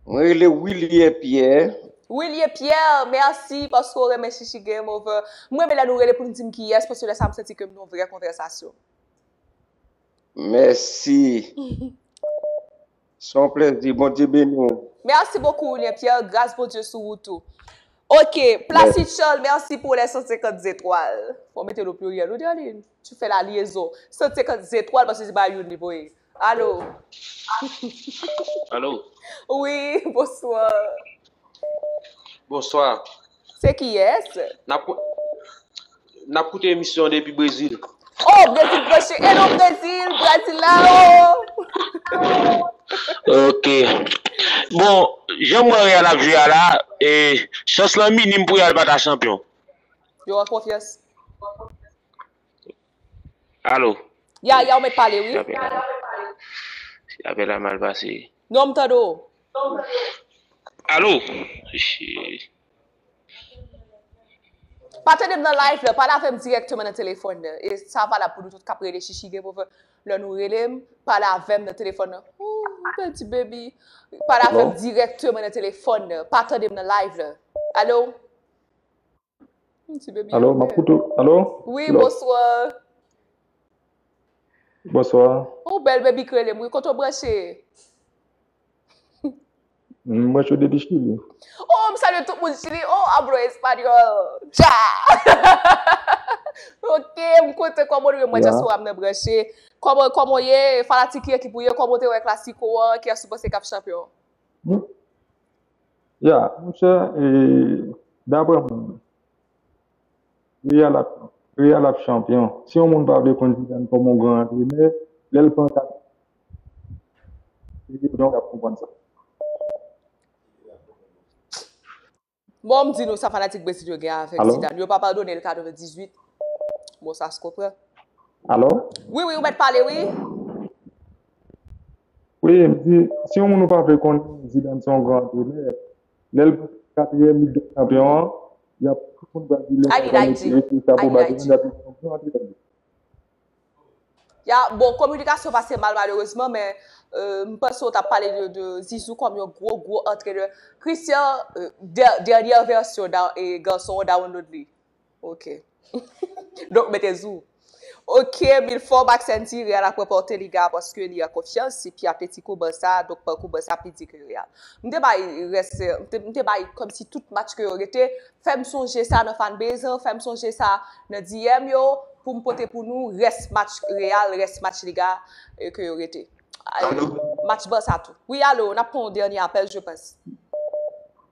Mwen rele Wilie Pierre. Wilie Pierre, merci paske ou renmen Shishi Game Over. M renmen lè nou rele pou nou di m kiyès paske lè sa m santi ke m nan yon vrè konvèsasyon. Mèsi. Se yon plezi. Bondye beni w. Merci beaucoup Wilien Pierre, gras Bondye sou ou tou. Ok, Placide Charles merci pour les 150 zetwal. Fò mete l o pluriel wi Darline, tu fè la liaison. 150 zetwal paske se pa youn li voye. Alo. Alo. Wi, bonsoir. Bonsoir. Se kiyes? Nap koute emisyon depi brezil. Oh brezil branche hello brezil brasilao. Ok bon janm wè real ap jwe a la chans lan minim pou real pata chanpyon. Yo an konfyans. Alo. Ya ya ou met pale wi. Si apel la mal pase. Non m tande w. Alo. Pa tande m nan live la pale avem direkteman nan telefon nan e sa valab pou nou tout kap rele chichi gen pou fe le nou rele m pale avem nan telefon nan ooh peti baby pale avem direkteman nan telefon nan pa tande m nan live la. Alo. Ti bebi Alo, map koute ou. Alo? Wi, bonswa. Bonswa. Ou bèl bebi k rele m wi, kote w branche? M branche depi Chili. O, m salye tout moun Chili. O, hablo español. Cha! Ok, m kontan. Kòman nou ye? Mwen dyaspora m nan branche. Kòman, kòman w ye? Fanatik ki ekip ou ye? Kòman w te wè klasiko an? Kiyès ou panse k ap chanpyon? Ya, mon chè, e daprè mwen menm, Real ap, Real ap chanpyon. Si yon moun pa vle konn Zidane kòm yon gran antrenè, lè l pran kat Ligue des Champions, l ap konprann sa. Bon, m di nou sa fanatik Brezil yo gen avèk Zidane. Yo pa padone l 98. Bon, sa se kontrè. Alò? Wi, wi, ou mèt pale wi. Wi, m di, si yon moun ou pa vle konnen Zidane se yon gran antrenè, lè l pran katriyèm lig dè chanpyon an, y ap, tout moun pral di lè sa l pral mete mete chapo ba Zidane, y ap di se yon gran antrenè. Ya, bon kominikasyon pase mal malerezman men m panse w t ap pale de Zizou kòm yon gwo gwo antrenè. Christian, dènyè vèsyon gason an dawonlod li. Ok. Donk mete zou. Ok mil fwa w bak senti real ap ranpòte liga a paske li an konfyans epi ap peti kou barça a donk pakou barça pi di ke real. M te bay rès m te bay kòmsi tout match ke yo rete fèm sonje sa nan fanbase an fèm sonje sa nan DM yo poum pote pou nou rès match real rès match liga ke yo rete match barça tou. Wi alo nap pran yon dènye apèl je panse.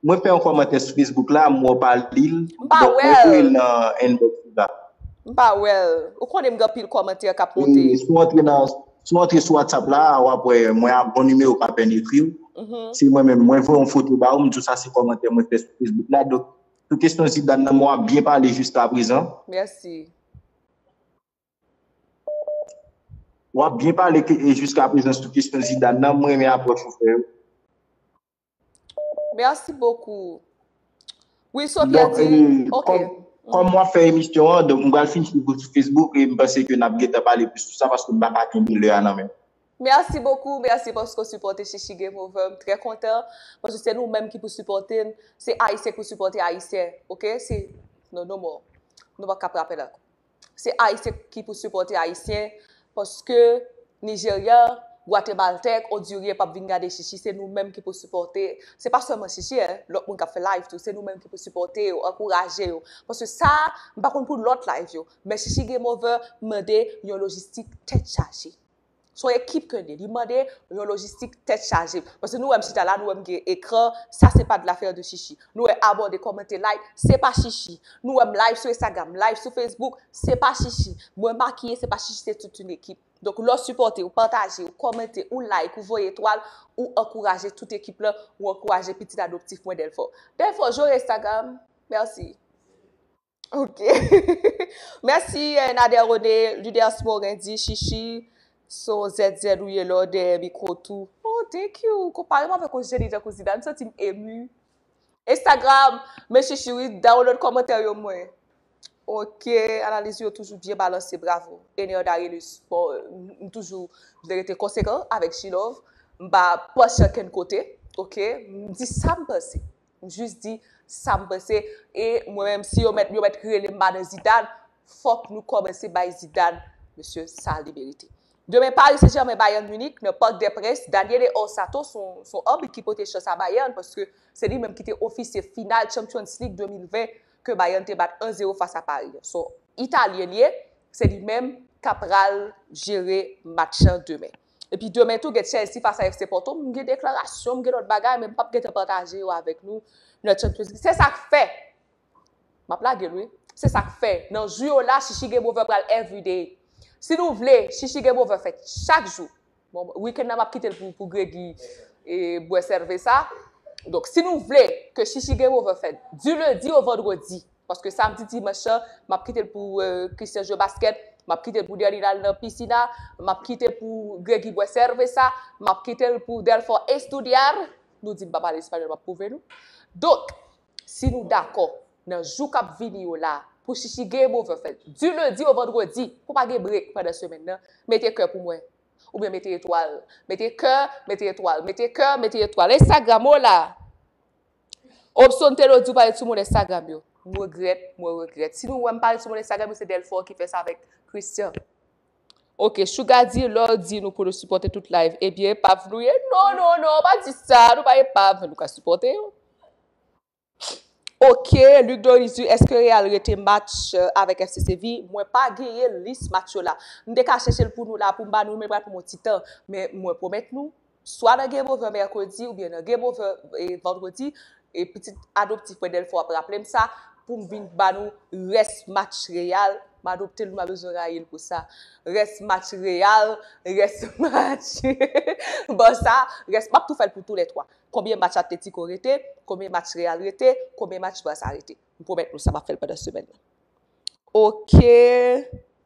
Mwen fè yon kòmantè sou Facebook la, m wè w pa li l. M pa wè l. Donk mwen voye l nan inbox ou la. M pa wè l. Ou konnen m gen anpil kòmantè k ap monte. Si w antre nan, si w antre sou WhatsApp la, w ap wè mwen a bon nimewo pa pèn ekri w. Se mwen menm. Mwen voye yon foto ba ou, m di w sa se kòmantè mwen fè sou Facebook la. Donk sou kesyon Zidane nan, m wè w ap byen pale jiskaprezan. Mèsi. W ap byen pale jiskaprezan sou kesyon Zidane nan. M renmen apwòch ou fè yo. Merci beaucoup. Wi Sofia di, ok. Kòm wap fè emisyon an, donk m pral fin swiv ou sou Facebook e m panse ke nap gentan pale plis sou sa paske m pa ka kenbe lè a nan menm. Merci beaucoup, merci paske w sipòte Shishi Game Over, m trè kontan paske se nou menm ki pou sipòte l, se Ayisyen ki pou sipòte Ayisyen, ok, se no no more. Nou pap ka frape l ankò. Se ayisyen ki pou sipòte ayisyen paske Nijerya, Gwatemaltèk, Ondiryen pap vin gade chichi se nou menm ki pou sipòte se pa sèlman chichi hein lòt moun kap fè live tou se nou menm ki pou sipòte yo ankouraje yo paske sa m pa konn pou lòt live yo men chichi gen move mande yon lojistik tèt chaje. Son ekip ke li. Li mande yon lojistik tèt chaje. Paske nou wè m chita la, nou wè m gen ekran, sa se pa de l'affaire de chichi. Nou wè abòde, kòmante, like, se pa chichi. Nou wè m live sou Instagram, live sou Facebook, se pa chichi. Mwen makiye, se pa chichi, se tout yon ekip. Donk lè w sipòte, ou pataje, ou kòmante, ou like, ou voye etwal, ou ankouraje tout ekip lan, ou ankouraje pitit adoptif mwen Delfò. Delfò, jore Instagram. Mèsi. Ok. Mèsi Nader René, Luders Morin di Shishi so ZZ ou ye lè w dèyè mikro tou. Oh thank you! Ou konpare m avèk yon jeni tankou Zidane, m santi m emu. Instagram, men Shishi wi, download kòmantè yo mwen. Ok, analiz ou yo toujou byen balanse, bravo. Ener Darielus, bon m toujou vle rete konsekan avèk G-Love, m pa panche ankenn kote, ok, m di sa m panse. M jis di sam panse e mwen menm si yo mèt yo mèt relem ba nan Zidane fòk nou kòmanse bay Zidane mesye sa li merite. Demen Paris Saint Germain Bayern Munich nan Parc des Princes Daniele Orsato son anbit ki pote chans a Bayern paske se li menm ki te ofisye final Champions League 2020 ke Bayern te bat 1 zero fas a Paris an son italyen li ye se li menm kap pral jere match lan demen. Epi demen tou gen Chelsea fas a FC Porto, m gen deklarasyon, m gen lòt bagay men m pap gentan pataje yo avèk nou nan Champions League. Se sak fè, m ap lage l wi, se sak fè nan jou yo la Shishi Game Over pral everyday. Si nou vle Shishi Game Over fèt chak jou, bon weekend nan m ap kite l pou Gregi bwè sèvesa, donk si nou vle ke Shishi Game Over fèt di lundi au vendredi, Paske samdi dimanch lan, m ap kite l pou Christian jwe baskèt, m ap kite l pou Derline al nan pisina, m ap kite pou Gregy bwè sèvesa, m ap kite l pou Delfort estudiar, nou di m pa pale espanyòl m ap pwouve nou. Donk, si nou dakò, nan jou k ap vini yo la, pou Chichi Game Over fèt, di lendi o vandredi, pou pa gen brek pandan semèn nan, mete kè pou mwen. Oubyen mete etwal. Mete kè, mete etwal. Mete kè, mete etwal. Instagram o la! Opson Telo di ou pale sou moun Instagram yo. M regrèt, mwen regrèt. Si nou wè m pale sou moun Instagram yo se Delfort ki fè sa avèk Christian. Ok, Sugar di lè w di nou pou nou sipòte tout live, ebyen epav nou ye? Non, non, non, pa di sa, nou pa epav, men nou ka sipòte yo. Ok, Luc Doris di èske Real rete match avèk FC Séville? Mwen pa genyen lis match yo la. M te ka chèche l pou nou la pou m ba nou l men l pral pran m yon ti tan. Men mwen pwomèt nou. swa nan game over mercredi oubyen nan game over vendredi e pitit adoptif mwen Delpho ap raplem sa poum vin ba nou rès match Real m adoptel wi m pa bezwen rayil pou sa rès match Real rès match Barça rès map tou fèl pou tou lè 3 konbyen match Atletico rete konbyen match Real rete konbyen match Barça rete m pwomèt nou sa map fèl pandan semèn nan ok.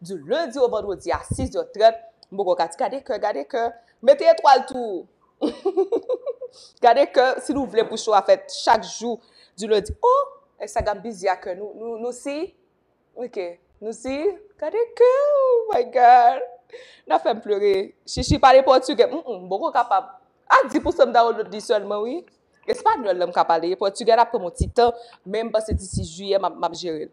Du lundi au vendredi a 6 zè 30 m poko ka t gade kè gade kè mete etwal tou gade kè si nou vle pou show a fèt chak jou du lundi oh instagram bizi a kè nou nou si ok nou si gade kè oh my god nan fèm pleure shishi pale portugè m m poko kapab a 10 pousan m download li sèlman wi español la m ka pale portugè la ap pran m yon ti tan men m panse d'ici juillet map map jere l.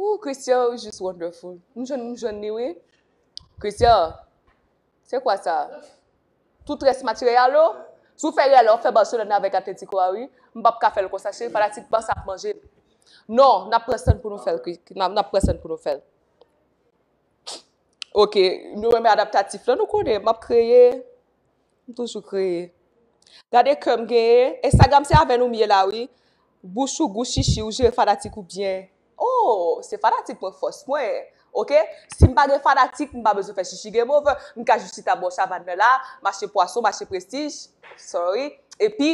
Ooh Christian ou jus wonderful. M jwenn m jwenn li wi. Christian, se kwa sa? Tout rès material ou? Si w fè rèl ou ap fè Barcelona avèk Atletico a wi. M pap ka fè l konsa cheri fanatik Barça ap manje m. Non, n ap pran san n pou nou fè l n ap pran san n pou nou fè l. Ok, nou renmen adaptatif lan nou konnen m ap kreye. M toujou kreye. Gade kè m genyen. Instagram se avè nou m ye la wi. Bouch ou gou chichi ou jere fanatik ou byen. Oh se fanatik mwen fòs mwen ok si m pa gen fanatik m pa bezwen fè chichi game over m ka jis chita bò savann nan la mache pwason mache prestij sorry epi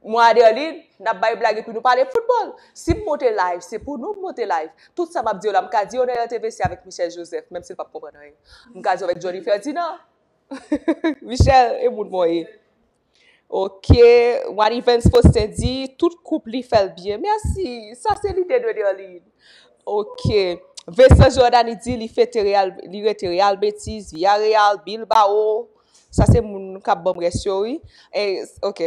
mwen a Derline n ap bay blag epi nou pale foutbòl si m monte live se pou nou m monte live tout sa m ap di yo la m ka di yo nan RTVC avèk Michel Joseph menm si l p ap konprann anyen m ka di yo avèk Jhonny Ferdinand. Michel e moun mwen ye. Ok, Wanivens Faustin di, tout koup li fèl byen. Merci, sa se lide de Derline. Ok, Vincent Jordany di li fete Real, li rete Real Betis, Villarreal, Bilbao. Sa se moun kap banm rès yo wi. Ok.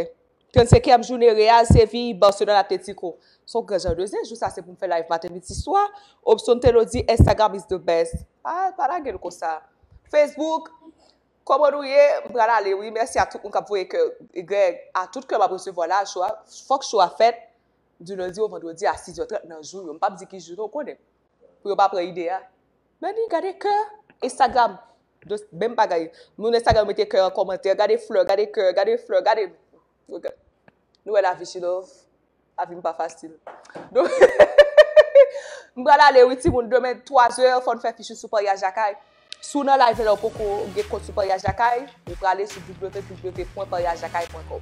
35 èm joune Real, Séville, Barcelone Atlético Son gran jan de zen jou sa se pou m fè live maten midi swa Opson Telo di Instagram is the best Pa pa lage l konsa Facebook Kòman nou ye m pral ale wi mèsi a tout moun k ap voye kè Greg a tout kè m ap resevwa la cho a fòk cho a fèt du lundi au vendredi a 6 è 30 nan jou yo m p ap di ki jou non ou konnen pou yo pa pran ide a. Meni gade kè Instagram dos menm bagay moun Instagram mete kè an kòmantè gade flè gade kè gade flè gade nou wè lavi chi love lavi m pa fasil m pral ale wi timoun demen 3 zè fò n fè fich nou sou paryaj lakay si w nan live la ou poko gen kont sou paryaj lakay ou prale sou www.paryajlakay.com.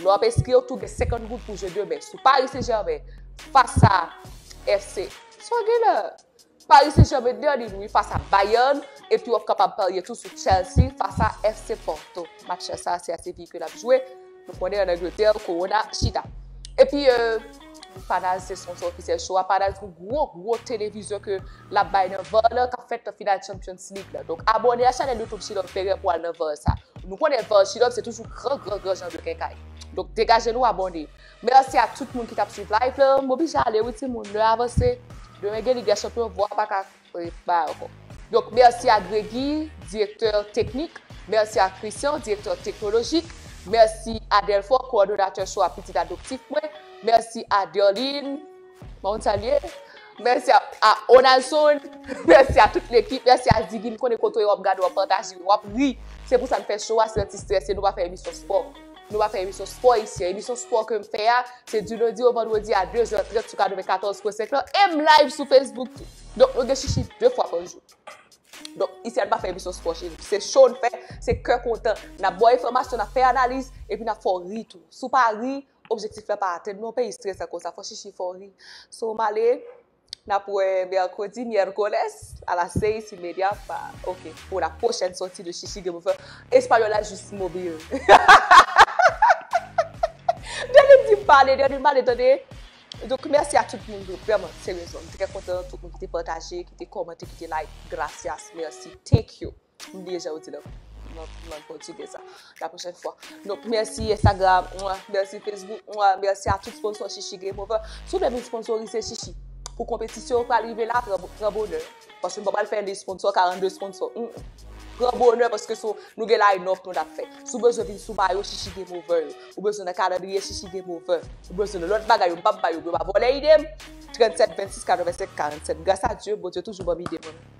Nou ap enskri yo tou gen 50 goud pou jeu demen sou Paris Saint Germain fas a FC. Sa w gen la? Paris Saint Germain nan li wi fas a Bayern epi wap kapab parye tou sou Chelsea fas a FC Porto. Match sa se a Séville ke lap jwe. Nou konnen an Angleterre Corona chita. Epi euh. Panal se sponsor ofisyèl show a. Panal se yon gwo gwo televizyon ke lap bay nan var la kap fèt nan final Champions League la. Donk abone a chanèl YouTube Chilòm Ferrer pou al nan var sa. Nou konnen var Chilòm se toujou gran gran gran jan de kenkay. Donk degaje nou abone. Merci a tout moun ki tap swiv live la. M oblije ale wi timoun, lè a avanse. Demen gen Lig dè Chanpyon, vwa a paka Prepare. Donk mèsi a Gregy, direktè teknik, mèsi a Christian, direktè teknolojik, mèsi a Delfort, kowòdonatè cho a pitit adoptif mwen, mèsi a Derline, pa konn sa l ye, mèsi a Onalson, mèsi a tout lekip, mèsi a Ziggy, m konnen kote w ap gade w ap pataje, w ap ri, se pou sa n fè cho a, se anti stress e nou pa fè emisyon spò. Nou va fè emisyon spò isi a. Emisyon spò ke m fè a, se di lendi o vandredi a 2 zè 30 sou 94 pwen 5 lan, e m live sou Facebook tou. Donk nou gen chichi 2 fwa pa jou. Donk isi a n pa fè emisyon spò che nou. Se show n fè, se kè kontan. N ap ba w enfòmasyon, n ap fè analiz, epi n ap fè w ri tou. Si w pa ri, objektif la pa atenn non, peyi strèsan konsa, fò chichi fè w ri. So m ale. Nap wè mercredi, miércoles a las seis y media pa ok pou la prochèn sòti de Chichi gen pou fè Espayòl la jis mobil. Dènye di m pale, dènye m pale tande. Donk mèsi a tout moun tou vrèman seryezman m trè kontan tout moun ki te pataje, ki te kòmante, ki te like gracias, mèsi, thank you. M bliye jan yo di nan lang pòtigè sa. La pwochèn fwa. Donk, mèsi Instagram, mèsi Facebook, mèsi a tout sponsò Shishi Game Over. Si w vle vin sponsorize Shishi pou konpetisyon yo pral rive la, pran bonè. Paske m pa pral fè lis sponsò, 42 sponsò. Pran bonè paske sou nou gen line-up nou nap fè. Si w bezwen vin sou mayo Shishi Game Over yo, ou bezwen nan kalandriye Shishi Game Over, ou bezwen nan lòt bagay yo m pap bay yo pou yo pa vòlè ide m, 37 26 85 47. Gras a Dye, Bondye toujou ban m ide mwen.